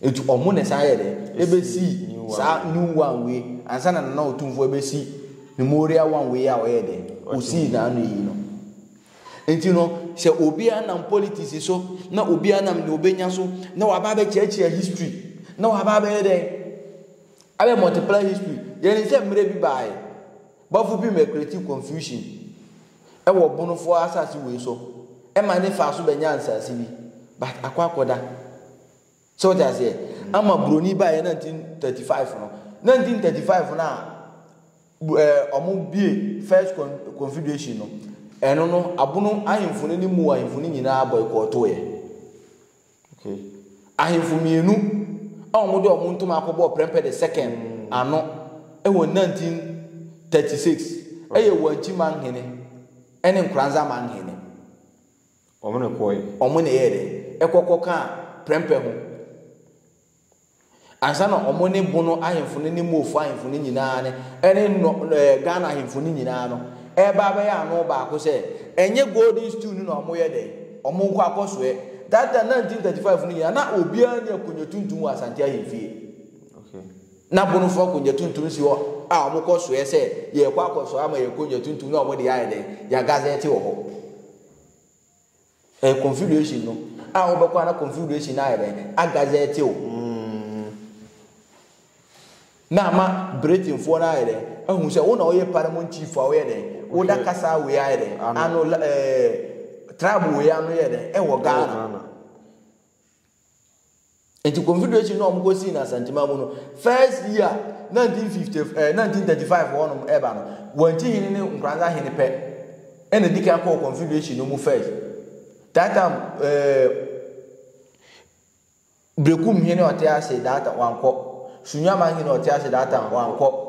Eti ɔmo na ɛsan yɛɛ dɛ? Ebesii saa new one wei ansa na Nana Otumfoɔ ɛbɛsi Memorial one wei a ɔyɛɛ dɛ? Osii n'ano yi no. Enti no, sɛ obiara nam politics so, na obiara nam nea obenya so, na waba abɛkyerɛkyerɛ history, na waba abɛyɛ dɛ? Abɛ multiply history. Yɛnim sɛ mmerɛ bi baae, Bafo pii bɛ create confusion ɛwɔ Bonofoɔ asase wei so, ɛma ne faa so bɛnyaa nsase bi, but akɔ akɔda. So wote aseɛ? Ama buroni baeɛ 1935 no. 1935 no a ɛɛ wɔn bie first con confederation no, ɛno no abono ahemfo no ne mu ahemfo no nyinaa boycottoeɛ. Okay. Ahemfo mmienu a wɔn de wɔn ntoma akɔbɔ Prempeh the second ano ɛwɔ 1936 ɛyɛ Wanchi Manghene ɛne Nkoranza Manghene. Wɔn na ɛkɔɔɛ. Wɔn na ɛyɛɛ dɛ? Ɛkɔ kɔkaa prɛmpɛ ho. Ansa na wɔn ne Bono ahemfo no ne Moofo ahemfo no nyinaa ne ɛne nɔ ɛɛ Ghana ahemfo no nyinaa no ɛreba abɛyɛ ano baako sɛ ɛnyɛ golden stew no na wɔyɛ dɛ? Wɔn nkɔ akɔsoɛ. That time 1935 no nyinaa na obiara nni akonnwa tuntum wɔ Asante ahemfie. Okay. Na Bonofo akonnwa tuntum si hɔ a wɔkɔ soɛ sɛ yɛrekɔ akɔsoɛ ama yɛn akonnwa tuntum na wɔde ayɛ dɛ? Yɛagazɛte wɔ hɔ. Ɛyɛ confederation no a wobɛkɔ ana confederation no ayɛ dɛn agaza ɛte o hmm. na ama britainfoɔ no ayɛ dɛn ahu sɛ wo na woyɛ parliament chief a woyɛ dɛn woda kasa wei ayɛ dɛn ano ɛɛ eh, tribe wei ano yɛ dɛn ɛwɔ ghana Nti confederation na wɔn kɔ sii no Asantima mu no first year 1950 eh, 1935 wɔn nom ɛba no wɔn akyi hene ne Nkoranza hene pɛ ɛna di kan kɔɔ confederation no mu first that time eh, Brekum hene ɔte ase that wankɔ Sunyama hene ɔte ase that time wankɔ.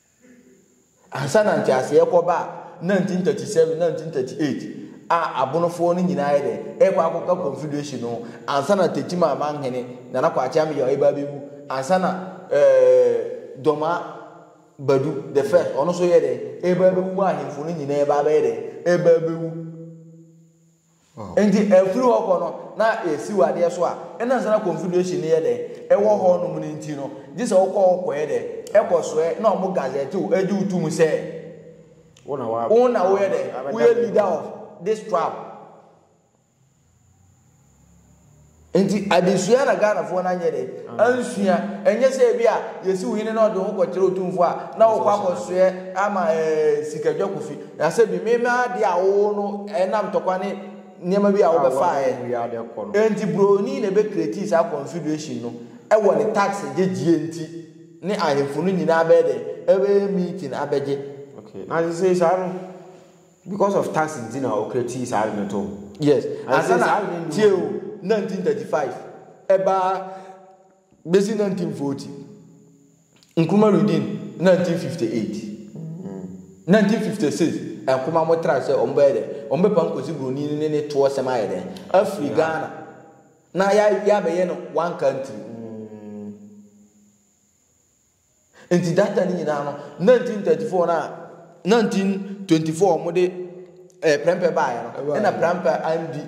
Ansa na nteaseɛ kɔ baa 1937, 1938 a abonofoɔ no nyinaa yɛ dɛ ɛrekɔ akɔka confederation no ansa na Tetim Amanhene Nana Kwakye Ameyaw ɛreba abɛwu ansa na ɛɛ Dɔma Badu the first ɔno nso yɛ dɛ ɛreba abɛwu ma ahemfo no nyinaa ɛreba abɛyɛ dɛ ɛreba abɛwu. Enti afiri hɔ kɔ no, na yɛsiw adeɛ so a, na ɛnsɛ na Confederation no yɛ dɛn? Ɛwɔ hɔnom no nti no, gye sɛ wokɔ hɔ kɔyɛ dɛn? Kɔsoɛ, na wɔn gazette wo, gye wo tom sɛ wo na woyɛ dɛn? Woyɛ leader of this tribe. Nti adesua na Ghanafoɔ no anyɛ dɛn ansua? Ɛnyɛ sɛ ebi a yɛsiw hene na ɔde wo kɔkyerɛ otumfoɔ a na wokɔ akɔsoɛ ama ɛɛ sikadwakofi. Na sɛ bi mema adeɛ a wowɔ no ɛnam ntɔkwa ne nneɛma bi a wobɛfaeɛ. Nti buroni na ɛbɛ create saa confederation no ɛwɔ ne tax gyegyeɛ nti ne ahemfo no nyinaa bɛyɛ dɛn ɛbɛyɛ meeting abɛgye. Okay, na sesei saa no. Because of tax nti na ɔkra tii saa ade no too. Yes. Ansa na tie o 1935 ɛbaa besi 1940. Nkrumah Redeem 1958. 1956 Nkrumah mo tra sɛ wɔn bɛyɛ dɛ wɔn bɛpam Kwesi Broni ne ne toɔ sɛm ayɛ dɛ afiri Ghana na yɛabɛyɛ no one country. Enti that time no nyinaa no, 1934 no a 1924 a wɔde eh, prɛmpɛ baeɛ no, ɛna prɛmpɛ andi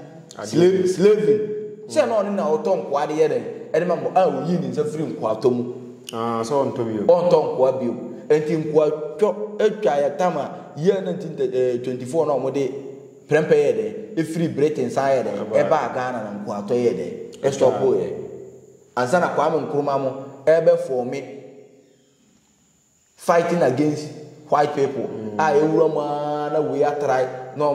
slave, slaving. Sɛ na ɔno na ɔtɔ nkoa de yɛ dɛn? Ɛde ma mo a ɔyii ne nsa firi nkoatɔ mu. Ah, sɛ ɔntɔ bio. Ɔntɔ nkoa bio. Enti nkoatɔ atwa yɛ tam a year 1924 na wɔde prɛmpɛ yɛ dɛn? Ɛfiri Britain san yɛ dɛn? Ɛbaa Ghana na nkoatɔ yɛ dɛn? Ɛstɔpoeɛ. Ansa na Kwame Nkrumah mo ɛbɛ fɔme fighting against white people a ɛwura mu aa na wei atrae na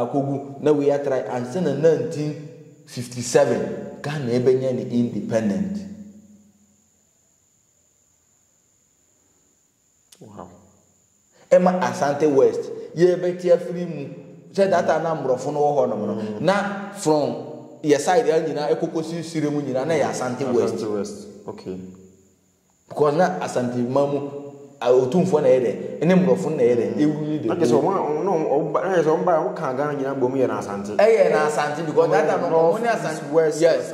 akɔgu na wei atrae ansa na 1957 Ghana ɛbɛnya ne independent. Wow. Ɛma Asante West yɛ bɛte afiri mu sɛ that time na mborɔfo no wɔ hɔ nom no na from yɛ side a nyinaa ɛkɔkɔsi sire mu nyinaa na yɛ Asante West. Asante West okay. Because na Asante man mu otumfoɔ na yɛ dɛ ɛne mborɔfo na yɛ dɛ ewuli dɛ. Na kyerɛ sɛ wɔn a wɔn na wɔn ba na kyerɛ sɛ wɔn ba wɔn kan Ghana nyinaa bɔ mu yɛ na Asante. Ɛyɛ na Asante because that time wɔn ne Asante yes.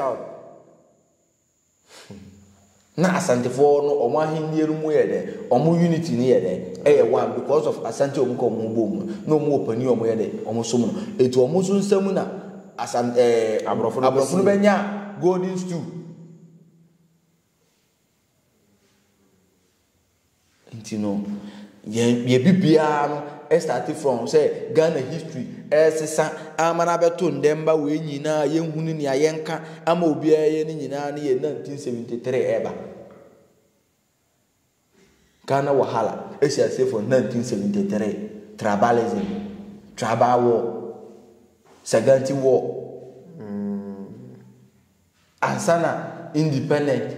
Na Asante foɔ no ɔmo ahennie no mu yɛ dɛ ɔmo unity no yɛ dɛ ɛyɛ one because of Asante a ɔmo ka ɔmo ho bom no na ɔmo wɔ panin a ɔmo yɛ dɛ ɔmo som no eti ɔmo nso nsa mu na Asan ɛɛ Aborɔfo no Aborɔfo no bɛsi. bɛnya golden stool. Nti no yɛn yɛ bibiara no ɛstate from sɛ Ghana history ɛresesa ama no abɛto ndɛmba wei nyinaa yɛnhu ne nea yɛnka ama obiara yɛ ne nyinaa ne yɛ 1973 ɛreba. Ghana wahala ɛsi aseɛ from 1973 tribalism tribal war Saganti war mm. ansa na independent.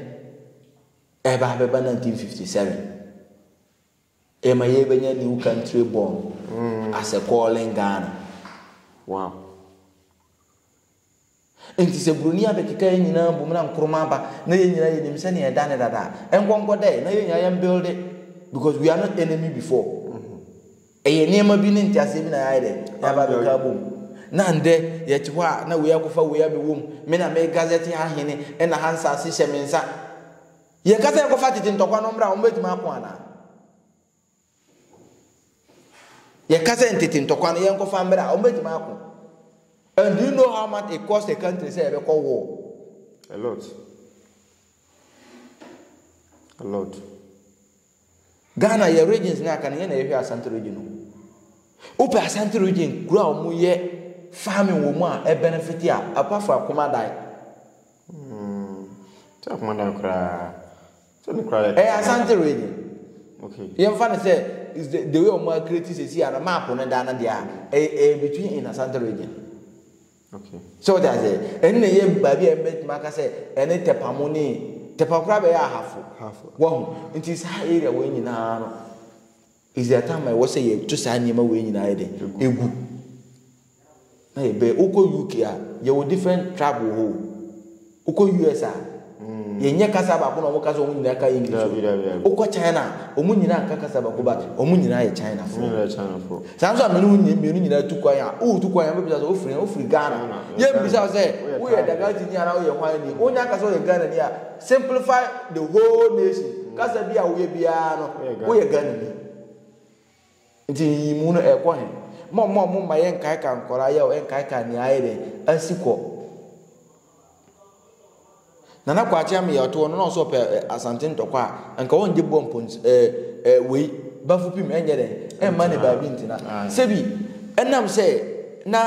Ɛreba abɛba 1957, yɛma yɛrebɛnya New Country Born as a Calling Ghana. Wow. Nti sɛ buroni abɛkeka yɛn nyinaa bom na Nkrumah aba na yɛn nyinaa yɛnim sɛnea ɛda ne dada a, ɛnkɔnkɔ dɛ na yɛn nyinaa yɛmbuilde because we are not enemy before. Ɛyɛ nneɛma bi ne nteaseɛ bi na yɛayɛ dɛ? Yɛaba abɛka abom. Na ndɛ yɛte hɔ a na wei akɔfa wei abɛwɔ mu. Me na me gazette ha hene ɛna ha nsaase hyɛ me nsa. Yɛka sɛ yɛkɔfa tete ntɔkwa no mmra a, wɔbɛtumi ako anaa? Yɛka sɛ ntete ntɔkwa no yɛnkɔfa mmra a, wɔbɛtumi ako? And do you know how much it costs a country sɛ yɛbɛkɔ war? A lot. A lot. Ghana yɛ regions na aka no yɛn na yɛhwɛ Asante region o. Wopɛ Asante region kuro a wɔn yɛ farming wɔ mu a ɛbenefit a apart from Akomadae. Hmm. Sɛ Akomadae koraa. Sɛ ne koraa yɛ. Ɛyɛ Asante region. Okay. Yɛn fa ne sɛ is the the way wɔn akireti sɛ si a na map ne da no deɛ a ɛyɛ between in Asante region. So wote aseɛ? Ɛno na ɛyɛ baabi a mɛtumi aka sɛ ɛne Tɛpamo ne Tɛpamo koraa bɛyɛ ahafo. Wahu? Nti saa area wei nyinaa no, is there time a ɛwɔ sɛ yɛto saa nneɛma wei nyinaa yɛ dɛ? Egu. Na yɛbɛyɛ. Wokɔ UK a, yɛwɔ different tribe wɔ hɔ o. Wokɔ US a, yɛnyɛ kasa baako na wɔka sɛ wɔn nyinaa ka English o. Daabi, daabi, daabi. Wokɔ China a, wɔn nyinaa nka kasa baako but wɔn nyinaa yɛ Chinafoɔ. Wɔn nyinaa yɛ Chinafoɔ. Saa nso a me ne wo nyi- mmienu nyinaa tu kwan a, woretu kwan a, wobɛbisa sɛ wofiri he? Wofiri Ghana. Ghana, yɛ Yɛmmisa wo Ghana. sɛ Woyɛ woyɛ Ghana. Dagatini anaa woyɛ hwan ni. Wonya aka sɛ woyɛ Ghanani a, simplify the whole nation. Kasa bi a woyɛ biara no, Woyɛ Ghanani. woyɛ Ghanani. Nti nyiyimu no ɛkɔ he? Mommɔ mo mma yɛnkaekae nkɔlaa yaw, ɛnkaekae nea ayɛ dɛn? Asi kɔ. Nana Kwakye Ameyaw toɔ no na ɔsɛ ɔpɛ Asante ntɔkwa a, anka ɔngye boɔ mpo ns ɛɛ ɛɛ wei bafo pim ɛnyɛ dɛn? Ɛmma ne baabi ntena. Sɛbi ɛnam sɛ na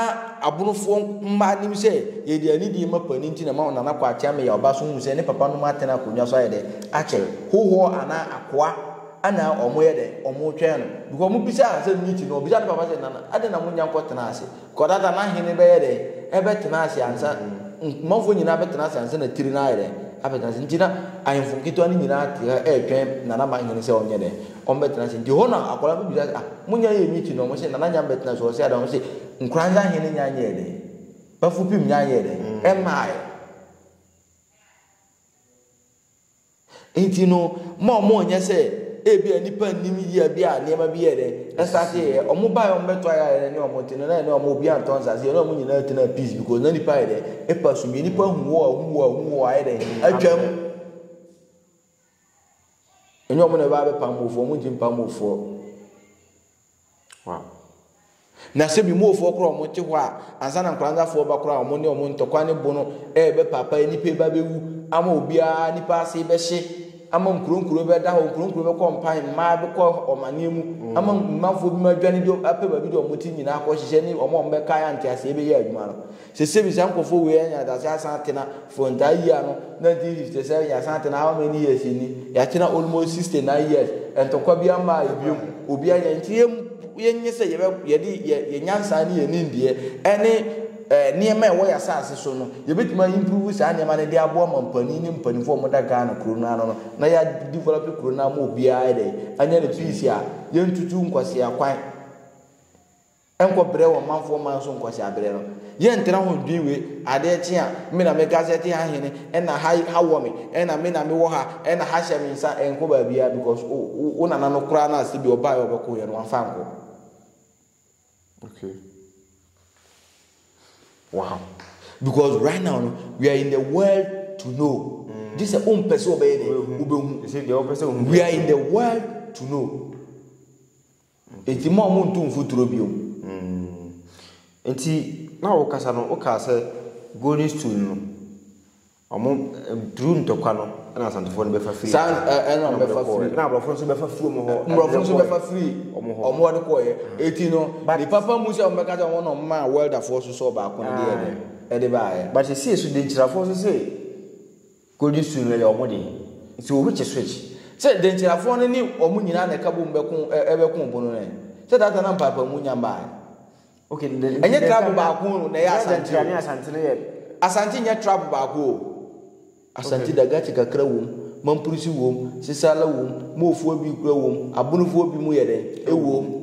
abonofoɔ mmaa nim sɛ yɛde anidie ma panin nti na ɛma Nana Kwakye Ameyaw ba so hu sɛ ne papa nom atena akonnwa so ayɛ dɛn? Akyɛre. Hohoɔ anaa akoa. Ana wɔyɛ dɛ? Wɔretwɛn no. Because wɔbisaa no asɛm bi ti no, wɔbisaa ne papa sɛ, Nana, adɛn na monnya nkɔtenaa ase? Because that time na hene bɛyɛ dɛn? Ɛbɛtena ase ansa, manfoɔ nyinaa bɛtena ase ansa na tiri no ayɛ dɛn? Abɛtena ase. Nti na ahemfo nketewa no nyinaa te hɔ retwɛn Nana ma hene sɛ wɔnyɛ dɛn? Wɔbɛtena ase. Nti hɔ na akwadaa no bisaa sɛ, Ah, monnya nyɛɛ me ti no? Wɔse, Nana nnya mmɛtenaa ase. Wɔse, Adɛn? Wɔse, Nkoranza hene nnya nyɛɛ dɛn? Bafupim nnya nyɛɛ dɛn? Ɛmmaeɛ. Enti no, mma wɔnyɛ sɛ ebia nnipa nnim yea bi a nneɛma bi yɛɛ dɛn? Ɛstartee yɛ. Wɔbaeɛ a wɔbɛtoa yɛ a yɛne wɔn te no, na yɛne wɔn, obiara ntɔ nsase, yɛne wɔn nyinaa tenaa peace because na nnipa ayɛ dɛn? Epa so yie. Nnipa hu wɔ a hu wɔ a hu wɔ a ayɛ dɛn? Atwam. Ɛnyɛ wɔn na ɛbɛba abɛpam wofoɔ, wɔn nti mpam wofoɔ. Wow. Na sɛ bimuofoɔ koraa wɔn te hɔ a, ansa na nkwaransafoɔ ba koraa wɔn ne wɔn ntɔkwa ne bono rebɛpaapae nipa yi ba bɛwu ama obiara nipa ase bɛhye ama nkuro nkuro bɛda hɔ nkuro nkuro bɛkɔ mpan mmaa bɛkɔ ɔmaneɛ mu mm. ama mmanfoɔ bi ma adwane bi apɛ baabi de wɔn ti nyinaa akɔ hyehyɛ ne wɔn a wɔbɛkae anteaseɛ bɛyɛ adwuma no Sɛ sɛ bi saa nkorɔfoɔ wei anya adase asan atena for ntaa year no 1957 yɛasan atena how many years ni yɛatena almost 69 years ntɔkwa biara mmaa yɛ biom obi anya nti yɛm yɛnyɛ sɛ yɛbɛ yɛde yɛ yɛ nyansa ne yɛ nimdeɛ ɛne ɛɛ nneɛma ɛwɔ yɛ asaase so no yɛbɛtumi a improve saa nneɛma no de aboa ma mpanin ne mpaninfoɔ a wɔda Ghana kuro no ano no na yɛ develop kuro no ama obiara ayɛ dɛ anya ne peace a yɛntutu nkwasea kwan Nkɔ brɛ wɔ manfoɔ man so nkɔ saa berɛ no. Yɛ ntra ho dwen wei, adeɛ kye a, me na me Gazette ha hene, ɛna ha ha wɔ me, ɛna me na me wɔ ha, ɛna ha hyɛ me nsa, ɛnkɔ baabiara because wo wo wo nana no koraa no a sɛbi ɔbaeɛ a ɔbɛkoeɛ no wamfa ankɔ. Okay. Wow. Because right now no, we are in the world to know. Mm. This is own person obey the obehu. You see the person We are in the world to know. Enti mo a montu mfuturo bio. Hmm. Enti na wokasa no wokaa sɛ golden stool no ɔmo duru ntɔkwa no ɛna asantefoɔ no bɛfa firi. Saa ɛna ɔmo bɛfa firi. Ɛna aborɔfo nso bɛfa firi ɔmo hɔ. Aborɔfo nso bɛfa firi ɔmo hɔ. Ɔmo ɔde kɔɔyɛ. Eti no ne papa mu sɛ ɔmo bɛka sɛ ɔmo na ɔmo maa wɛldafoɔ so sɛ ɔbaako no deɛ ɛde baayɛ. But ɛsii so denkyirafoɔ nso se. Golden Su no yɛ wɔn de. Nti obi kye switch. Sɛ Dankyirafoɔ no ne wɔn nyinaa na ɛka bom bɛko ɛbɛko obo no ɛ? Sɛ daata na mpaapaamu nya mba ɛ? Ok nti nti Ɛnyɛ tribe Dankyira baako na ɛyɛ na Asante Dankyira o. ne Asante no yɛ. Asante nyɛ tribe baako o. Asante da Gati kakra wom, Mamprusi wom, Sesala wom, Moofoɔ bi kura wom, Abonofoɔ bi mu yɛ dɛn? Ɛwom.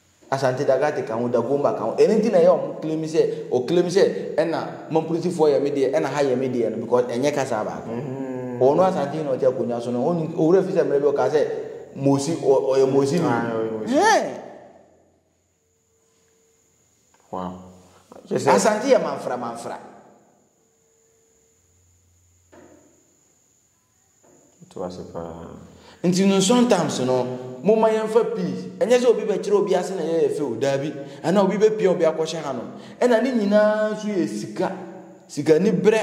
Asante Dagate ka ho, Dagomba ka ho. Ɛno nti na ɛyɛ a ɔmo claim sɛ, ɔ claim sɛ ɛna Mamprosifoɔ yɛ me deɛ, ɛna ha yɛ me deɛ no because ɛnyɛ kasa baako. Ɔno Asantehene a ɔte akonwa so no, ɔnnim, Owura Fisa mmerɛ bi ɔkaa sɛ Mosi, ɔ, ɔyɛ Mosi ni. Hɛɛn! Wow. Kyɛ sɛ. Asante yɛ Manfra Manfra. Ɛto ase pa ara. Nti no sometimes no, momma yɛmfa peace. Ɛnyɛ sɛ obi bɛkyerɛ obi ase na ɛyɛ yɛ fɛ o, daabi. Anaa obi bɛpia obi akɔhyɛ hanom. Ɛna ne nyinaa nso yɛ sika, sikaniberɛ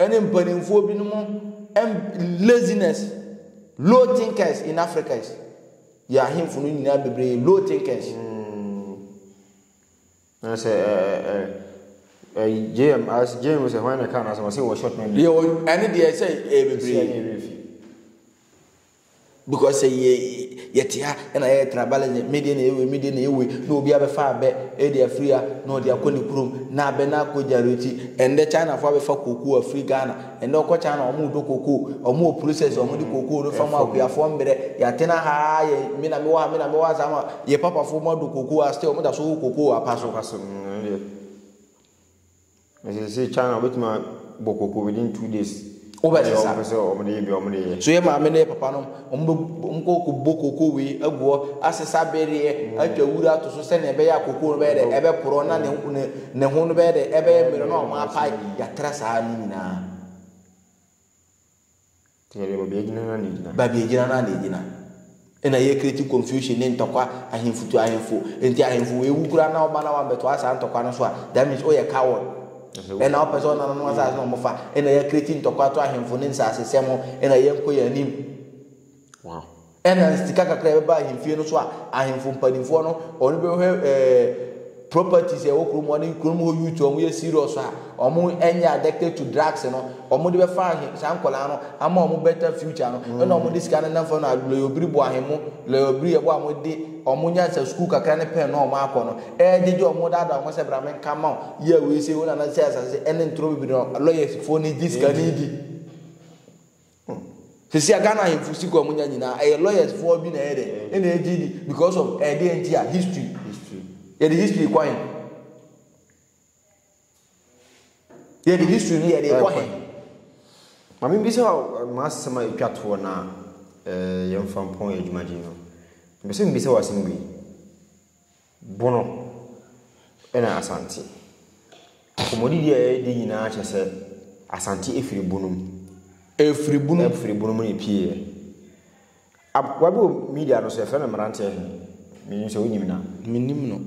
ne mpanimfoɔ binom ɛm laziness, low thinkers in Africas. Yɛn ahemfo no nyinaa bebree yɛ low thinkers. Na sɛ ɛ ɛ ɛ ɛ JM as JM sɛ hwan na ɛka n'asɛm ɔsɛ wɔ short memory. Yɛ ɛne deɛ sɛ ɛyɛ bebree. Sɛ ɛyɛ fi. Because sɛ yɛ yɛte ha ɛna yɛ tribalism me deɛ na ɛyɛ wei me deɛ na ɛyɛ wei na obi abɛfa abɛ ɛde afiri ha na ɔde akɔ ne kurom na abɛ na akɔ gyareti ɛndɛ China fo abɛfa koko afiri Ghana Ndɛ ɔkɔkyan na ɔmo dɔ kokoo, ɔmo wɔ process ɔmo de kokoo no fa mu akuafoɔ mbrɛ yatena ha aa yɛ me na me wɔ ha me na me wɔ ha saa ma yɛ papafoɔ ɔmo adɔ kokoo aa still ɔmo da so wɔ kokoo apa so. Apa so no deɛ na sese kyan na ɔbɛtumi abɔ kokoo within two days. Wobɛsesa. Ɔmo pɛ sɛ ɔmo de yɛ bi ɔmo de yɛ. So yɛ maame ne yɛ papa nom Wɔbɛkɔbɔ koko wei agu hɔ, asesa bereɛ, atwa wura ato so sɛdeɛ ɛbɛyɛ a koko no bɛyɛ dɛ, ɛbɛporɔ na ne ne ne ho no bɛyɛ dɛ, ɛbɛyɛ mmerɛ na wɔapae. Yɛatra saa ne nyinaa. Yɛde baabi agyina na ne gyina. Baabi agyina na ne gyina. Ɛna yɛkreti confusion ne ntɔkwa ahemfo to ahemfo. Nti ahemfo wei wu koraa na wo ba na wammɛtoa saa ntɔkwa no so a, that means woyɛ coward. Ɛna wopɛ sɛ ɔnananom asase na ɔmo fa ɛna yɛ kreti ntɔkwa to ahemfo ne nsase sɛm ho ɛna yɛ nkɔ yɛ anim. Wow. Ɛna sika kakra ɛbɛba ahemfie no so a ahemfo mpanimfoɔ no ɔno bɛhwɛ ɛɛ properties ɛwɔ kurom ɔne kurom hɔ youth ɔmo yɛ serious a ɔmo ɛnyɛ addicted to drugs no ɔmo de bɛfa ahe saa nkɔlaa no ama ɔmo better future no ɛna ɔmo de sika no nam fam na lɔyɔbiri bɔ ahemmo lɔyɔbiri ɛbɔ a mo de wɔn nyansa sukuu kakra ne pɛn no a wɔakɔ no regyegye wɔn daadaa wɔn sɛ bra menka mma wo yɛ wei sei wo nana sɛ asase ɛne ntoro bebree no lawyers foɔ no gye sika no di sisi a Ghana ahemfo sika wɔn nya nyinaa ɛyɛ lawyers foɔ bi na ɛyɛ dɛ ɛna ɛgye di because of ɛdeɛ nti a history yɛde history kwan Yɛ de history ni yɛ de kɔ he. Maame bi sɛ ma asɛm a etwa toɔ na ɛɛ yɛn fa mpɔn yɛ adwuma gye no. Mbese mbi sɛ wasɛm bi. Bono ɛna asante. Kɔmɔdi di a yɛ di nyinaa kyɛ sɛ asante efiri bono mu. Efiri bono. Efiri bono mu na epie yɛ. Aboa bi wɔ media no so yɛfrɛ no mmeranteɛ he, menim sɛ wonim no a. Menim no.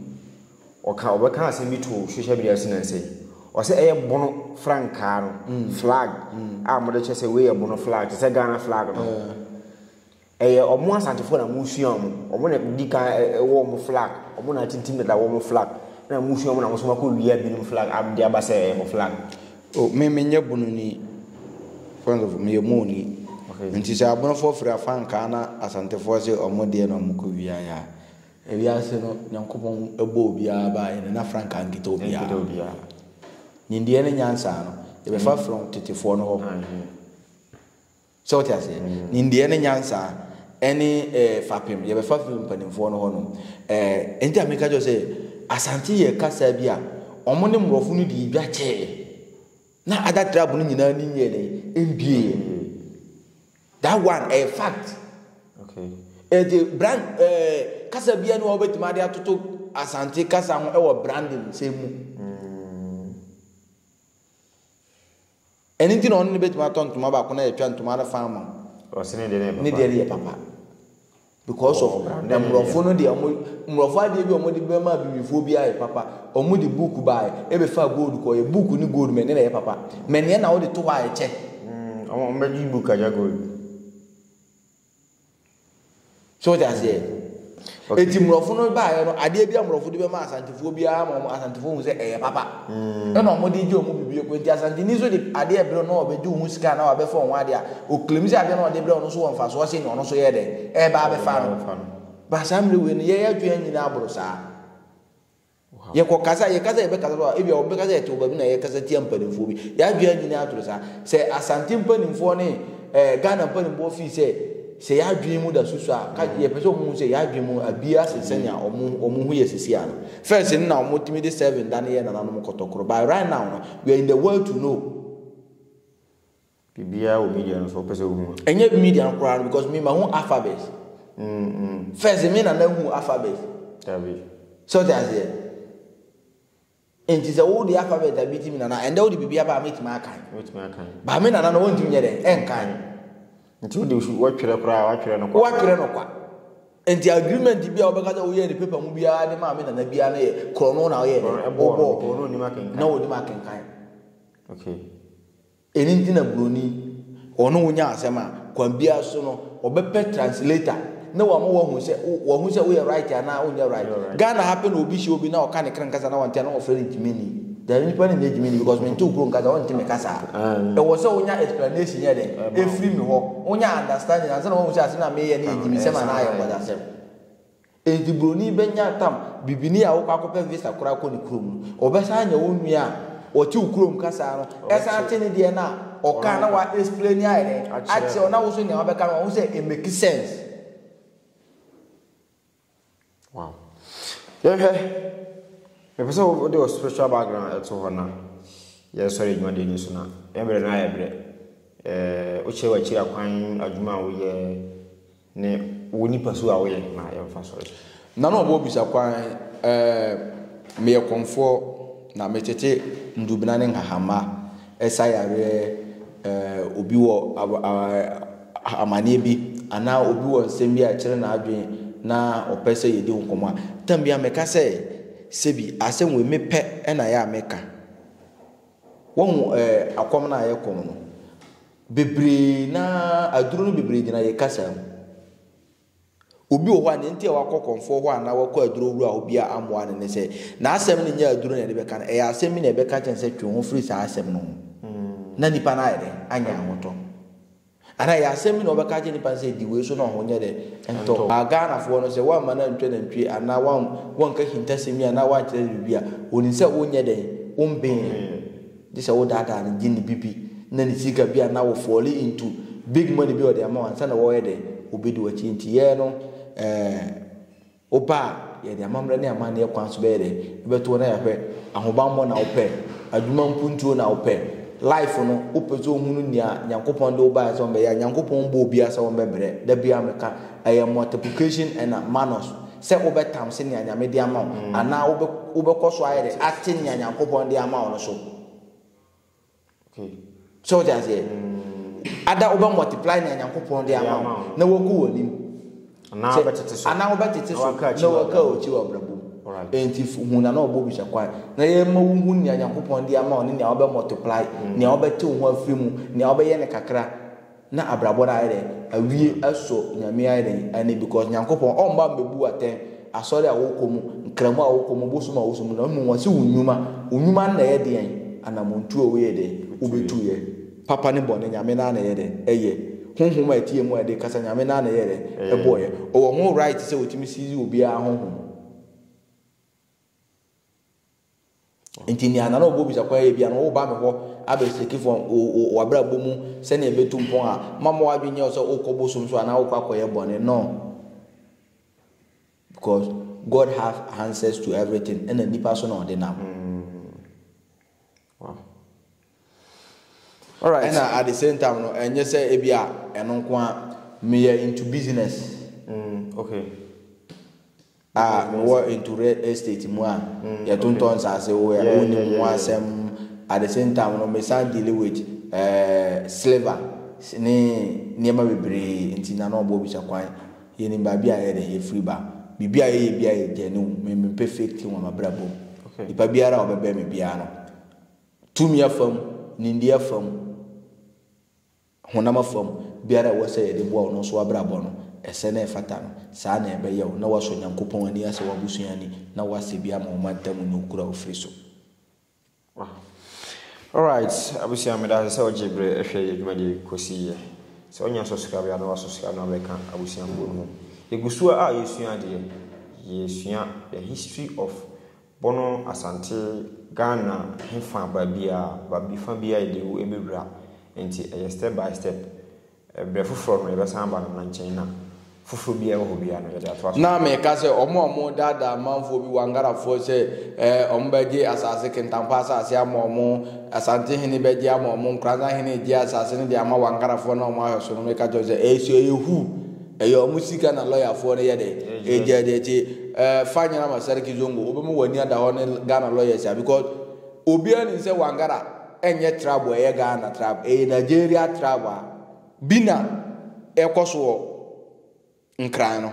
Ɔka ɔbɛka asɛm bi too social media so nnansa yi. Ɔsɛ ɛyɛ bono frankaa no, flag, a wɔde kyɛ sɛ wei yɛ bono flag, te sɛ Ghana flag no. Ɛyɛ wɔn Asantefoɔ na wɔsua wɔn. Wɔn na di kan wɔ wɔn flag. Wɔn na atintim dada wɔ wɔn flag. Na wɔsua wɔn na wɔn nso akɔwia binom flag de aba sɛ ɛyɛ wɔn flag. O me menyɛ Bununi, friends of meyɛ Mooni. Okay. Nti sɛ abonofoɔ firi afa nkaa na asantefoɔ se ɔmo deɛ na ɔmo kɔ wia ya. Ewiase no nyankopɔn ɛbɔ obiara baa yɛ no na frankaa nkita obiara. Nimdeɛ ne nyansa no yɛbɛfa from tetefoɔ no hɔ. So wote aseɛ? Nimdeɛ ne nyansa ne eh, fapem yɛbɛfa firi mpanimfoɔ no hɔ no. Eh, enti na meka kyerɛ wo sɛ Asante yɛ kasa bi a wɔn ne mmorɔfo no dii dwa kyɛɛ na other tribe no nyinaa ani nyɛɛ dɛn? Ɛmbieeɛ. That one, ɛyɛ fact. Okay. Enti brand, eh, kasa biara ne wɔbɛtumi ade atoto Asante kasa ho wɔ branding sɛ mu. Mm. Ɛno nti na ɔno ne bɛtumi atɔ ntoma baako na yɛatwa ntoma no fa ama wo. Ɔse ne deɛ ne deɛ no yɛ papa because of mmorɔfo no deɛ ɔmo mmorɔfo adeɛ bi a ɔmo de bɛma abibifoɔ bi ayɛ papa ɔmo de book baeɛ ɛbɛfaa gold kɔeɛ book ne gold mɛ ne na ɛyɛ papa mɛ neɛ na wode to hɔ a ɛkyɛ. Ɔmo bɛgye book agya gold. So wote aseɛ? Okay. Eti mmorɔfo no baeɛ no adeɛ bi a mmorɔfo de bɛma asantefoɔ biara ma wɔn asantefoɔ hu sɛ ɛyɛ papa. Mm. Ɛna wɔn de gye wɔn bibie kɔ nti asanteni nso de adeɛ brɛ na ɔbɛgye wɔn ho sika na wabɛfa wɔn adeɛ a okilim sɛ adeɛ na ɔde brɛ ɔno so wɔ mfasoɔ sɛ nea ɔno so yɛ dɛ ɛba abɛfa no. Ba saa mmere wei no yɛyɛ adwene nyinaa aboro saa. Yɛkɔ kasa a, yɛkasa a yɛbɛkasa so a, ebia wɔbɛka sɛ yɛte wɔ baabi na yɛkasa tia mpanimfoɔ bi. Yɛn adwene anyini atoro saa. Sɛ Asante mpanimfoɔ ne eh, Ghana mpanimfoɔ fii sɛ sɛ yɛn adwene mu da so so a, ka mm. yɛpɛ sɛ wɔhu sɛ yɛn adwene mu abie ase sɛnea wɔn ho yɛ sisi ano. First no na wɔtumi de seven da no yɛ nananom kɔtɔkoro. But right now no, we are in the world to know. Biribiara wɔ media no so wopɛ sɛ wohu a. Ɛnyɛ media no koraa no because me mahu alphabet. First me nana hu alphabet. Dabi. So ɔte aseɛ. Nti sɛ wo de alphabet a bi ti me nana ɛndɛ wo de biribi aba a mɛtumi akan. Mɛtumi akan. Ba me nana no wɔntumi nyɛ dɛ ɛnkan. Nti wo de wɔtwerɛ koraa wɔatwerɛ no kwa. Wɔatwerɛ no kwa. Nti agreement bi a wɔbɛka sɛ woyɛ ne paper mu biara de maa me nana biara no yɛ korɔ no na ɔyɛ dɛ. Ɛbɔɔ no. Korɔ no onim akenkan. Na onim akenkan. Okay. Ɛno nti na Buroni, ɔne wo nya asɛm a, kwan biara so no, ɔbɛpɛ translator na wama wahu sɛ, wahu sɛ woyɛ right anaa wonyɛ right. Ghana ha pɛ na obi hyia obi na ɔka ne kra nkasa na wante a, na wɔfrɛ no Gyimini. Deɛ me nipa no nyɛ Gyimini because mente wo kurom kasa, wɔnte me kasa a. Ɛwɔ sɛ wonya explanation yɛ dɛn? Ɛfiri me hɔ. Wonya understanding ansa na wahu sɛ asɛm no a mereyɛ no yɛ Gyimisɛm anaa ayɛ nkwaseasɛm. Enti buroni bɛnya ntam bibini a wokɔ akɔpɛ visa koraa kɔ ne kurom no, ɔbɛsan anya wo nua a ɔte wo kurom kasa no, ɛsan te ne deɛ no a ɔkaa na wa explaini ayɛ dɛn? akyerɛ wo na wo nso nea wabɛka no wahu sɛ it makes sense. Wow. Yɛnhwɛ, mepɛ sɛ wode wo spiritual background ɛto hɔ na yɛsɔre adwuma deɛ ni so na ɛbrɛ no ayɛ brɛ. Ɛɛ, wokyerɛ w'akyiri akwan adwuma a woyɛ, Ne wo nipasu a woyɛ no na yɛmfa sɔre. Na na ɔbɔ bisa kwan eh, meyɛ kɔmfoɔ na metete ndubena ne nhahamma ɛsa yareɛ eh, obi wɔ ah, amaneɛ bi anaa obi wɔ nsɛm bi a ɛkyere n'adwene na ɔpɛ sɛ yɛdi ho nkɔmmɔ a, tam biara meka sɛ sɛbi asɛm wei mepɛ na ɛyɛ a meka. Wahu eh, akɔm no a yɛkɔm no. Bebree no ara, aduru no bebree gyina yɛn kasa mu. Obi wɔ hɔ a, nea nti a wakɔ kɔmfoɔ hɔ anaa wakɔ aduro wura hɔ bi a ammoa no ne sɛ, n'asɛm no nyɛ aduro na ɛde bɛka no, ɛyɛ asɛm bi na ɛbɛka kyerɛ no sɛ twe wo ho firi saa asɛm no ho, na nipa no ayɛ dɛ, anya ahotɔ. Anaa ɛyɛ asɛm bi na wɔbɛka akyerɛ nipa no sɛ di wei so na ɔho nyɛ dɛ, ntɔ. A Ghanafoɔ no, sɛ woamma no antwa nantwie anaa woanka ahintasɛm yi anaa woankyerɛ no biribi a, ɔnim sɛ wonyɛ dɛn, wommee no. Gye sɛ wo daadaa no gye ne bibi na ne sika bi a na wo fall into big money bi a ɔde ama wo ansa na wɔyɛ dɛ ɔbɛdi wakyi nti yɛɛ no ɛɛ wo ba a yɛde amammerɛ ne amanneɛ kwan so bɛyɛ dɛ ɛbɛto wo na yɛahwɛ ahobanbɔ na wo pɛ adwuma mpuntuo na wo pɛ life no wo pɛ sɛ ohunu nea Nyankopɔn de wo baeɛ sɛ ɔmbɛyɛ a Nyankopɔn mbɔ obiara sɛ ɔmbɛbrɛ da biara meka ɛyɛ multiplication ɛna manus sɛ wobɛtam sɛ nea Nyame de ama wo anaa wobɛ wobɛkɔ so ayɛ dɛ ate nea Nyankopɔn de ama wo no so. So wote aseɛ? Ada wobɛ multiply nea Nyankopɔn de ama wo na waku w'anim. Anaa Sɛ- wobɛtete so. anaa wobɛtete Na so waka akyi na wɔ waka abrabɔ. akyi wɔ abrabɔ mu. Alright. Enti f- hu na na ɔbɔ bi hyɛ kwan na yɛma wohu nea Nyankopɔn de ama wo ne nea wobɛ multiply, nea wobɛte wo ho afiri mu, nea wobɛyɛ no kakra. Na abrabɔ no ayɛ dɛn? Awie sɔ Nyame ayɛ dɛn? Ani because Nyankopɔn ɔmba mbebu atɛn asɔre a wɔkɔ mu, nkramu a wɔkɔ mu, bosom a wɔsom mu na mbom wɔse wo nwuma, wo nwuma no na ɛyɛ deɛn? Anamɔntu a woyɛɛ dɛn? Wobɛtuiɛ. Papa ne bɔne Nyame no ara na ɛyɛ dɛn? Ɛyɛ. Honhom a ɛteɛ mu a ɛde kasa Nyame no ara na ɛyɛɛ dɛn? Ɛbɔɔyɛ. Ɔwɔ ho right sɛ ɔtumi seize obiara honhom. nti nea nana ɔbɔ bisa kwan yɛ bia no woba me hɔ abɛseki fam wabrabɔ mu sɛnea ɛbɛtu mpɔn a mama wadwe nyɛ sɛ wokɔ bosom so anaa wokɔ akɔyɛ bɔne no because god have answers to everything ɛna nipa so na ɔde nam mm. Wow. All right. Ɛna at the same time no, ɛnyɛ sɛ ebi a ɛno nko a meyɛ into business. Mm, okay. A mewɔ into real estate mu a mm, yɛtontɔn nsaase wo yɛ wo nim ho asɛm at the same time no mesan deal with uh, silver ne nneɛma bebree nti na na ɔbɔ bisa kwan Yɛnim baabi a yɛde, yɛfiri ba. Biribi a yɛyɛ biara yɛ genuine. Me, mempɛ fake thing wɔ m'abrabɔ mu. Nipa biara a ɔbɛbɛn me biara no, tumi afa mu, nimdeɛ afa mu, honam afa mu, biara a ɛwɔ sɛ yɛde boa ɔno nso w'abrabɔ no, ɛsɛ na ɛfata no. Saa na ɛbɛyɛ wo, na woasɔ Nyankopɔn ani, asɛ w'abusua ani, na woasɛ bi ama wo mantam ne wo kuro a wofiri so. Alright abusua meda ase sɛ wogye berɛ hwɛ yɛ dwumadie yi kɔsi yɛ. Sɛ wonya subscribe a na wa subscribe na wabɛka abusuafoɔ no mu. Yɛgu so a yɛsua adeɛ. Yɛsua the history of Bono Asante Ghana hefa baabiara baabi fa biara yɛde wo ɛbɛwura. Nti ɛyɛ step by step. Berɛ foforɔ no, yɛbɛsan aba no nkyɛn na foforɔ biara a ɛwɔ hɔ biara no, yɛde atoa so. Na meka sɛ, Wɔn a wɔredaadaa amanfoɔ bi Wangarafoɔ sɛ wɔbɛgye asase, Kintampo asase ama wɔn, Asante hene bɛgye ama wɔn, Nkoranza hene regyɛ asase no de ama Wangarafoɔ na wɔn ahwɛ so no, meka kyerɛ wo sɛ, ɛyɛ sua, ɛyɛ hu, ɛyɛ wɔn sika na lɔyafoɔ no yɛ dɛn? Ɛregyaa di akyi. Fa nyera ma Sarki Zongo, wobɛma w'ani ada hɔ ne Ghana lɔyɛs a, because obiara nim sɛ Wangara. ɛnyɛ trab a ɛyɛ Ghana trab, ɛyɛ Nigeria trab a bi na ɛkɔ so wɔ Nkran no.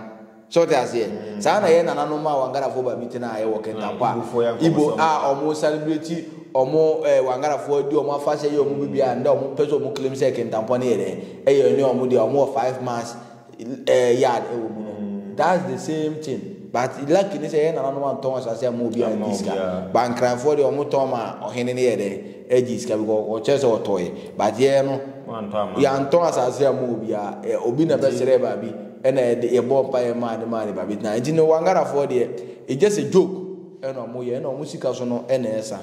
So wote aseɛ? Saa na ɛyɛ nananom a Wangarafoɔ ba bi tena a ɛwɔ Kentankwa, Igbo a wɔn sane berɛ ti wɔn eh, Wangarafoɔ adi wɔn afahyɛ yɛ wɔn biribiara, ndɛ wɔn pɛ sɛ wɔn claim sɛ Kentankwa no yɛ dɛ, ɛyɛ ɛne wɔn deɛ, wɔn wɔ five mass yard ɛwɔ mu no that's the same thing but lucky ne sɛ yɛn nananom antɔn asase ama obiara ngye sika but nkranfoɔ deɛ wɔn tɔn ma ɔhene no yɛ dɛ ɛgye sika because ɔkyerɛ sɛ ɔtɔɛ but yɛn no yɛantɔn asase ama obiara obi na bɛsrɛ baabi ɛna yɛde yɛbɔ mpa yɛ maa ne maa ne baabi tena nti no wangarafoɔ deɛ it's just a joke ɛna wɔn yɛ ɛna wɔn sika so no ɛna ɛsa.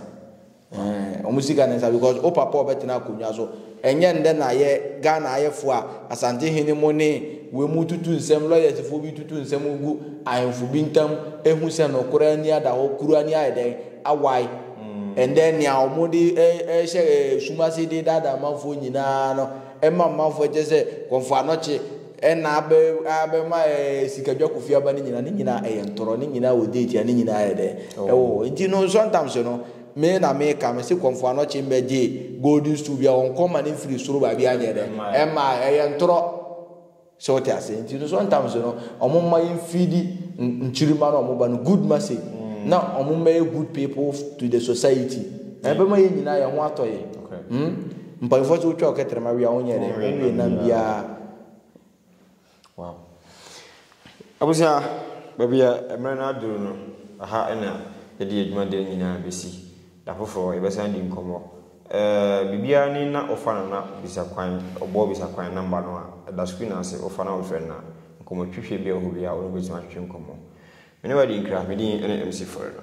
Ɛɛh ɔmo sika ne nsa because wo papa a ɔbɛtena akonwa so ɛnyɛ ndɛ na yɛ Ghana ayɛfoɔ a Asante hene mo ne wei mo tutu nsɛm lawyers foɔ bi tutu nsɛm gu ahenfo bi ntam ehu sɛ nokorɛ ani ada hɔ kuru ani ayɛ dɛn awae ɛndɛ nea ɔmo de ɛɛhyɛ sum ase de daadaa amanfoɔ nyinaa no ɛma amanfoɔ kyɛ sɛ kɔmfoanɔkye Ɛna abɛ abɛma ɛɛ sika dwakofie aba ne nyinaa ne nyinaa ɛyɛ ntorɔ ne nyinaa wɔ date a ne nyinaa yɛ dɛ ɛwɔ hɔ nti no nsɔntamso no me na me ka me se kɔmfoano kye mbɛ gye golden stool bia wɔn kɔ ma ne mfiri soro baabi anyɛ dɛ ɛma ɛyɛ ntorɔ sɛ wote ase nti no nsɔntamso no wɔn mma yɛn feedi nkyirima no wɔn ba no good message na wɔn mmɛyɛ good people to the society na ɛbɛma yɛn nyinaa yɛn ho atɔ yɛn hmm. Mpanyinfoɔ nso wotwa wo kɛtrɛma wie a wonyɛ dɛ wowie nam biara. Wow. Abusua, baabi a mmerɛ no aduru no, aha na yɛde yɛ dwumadie nyinaa bɛsi. Da foforɔ yɛbɛsan adi nkɔmmɔ. Eh, biribiara ni na wofa no na bisa kwan, ɔbɔ bisa kwan namba no a, ɛda screen no ase, wofa na wofrɛ no a, nkɔmmɔtwitwe biara hɔ biara wo ne no bɛtumi atwetwe nkɔmmɔ. Me ne wo adi nkra, me din ne MC Foreno.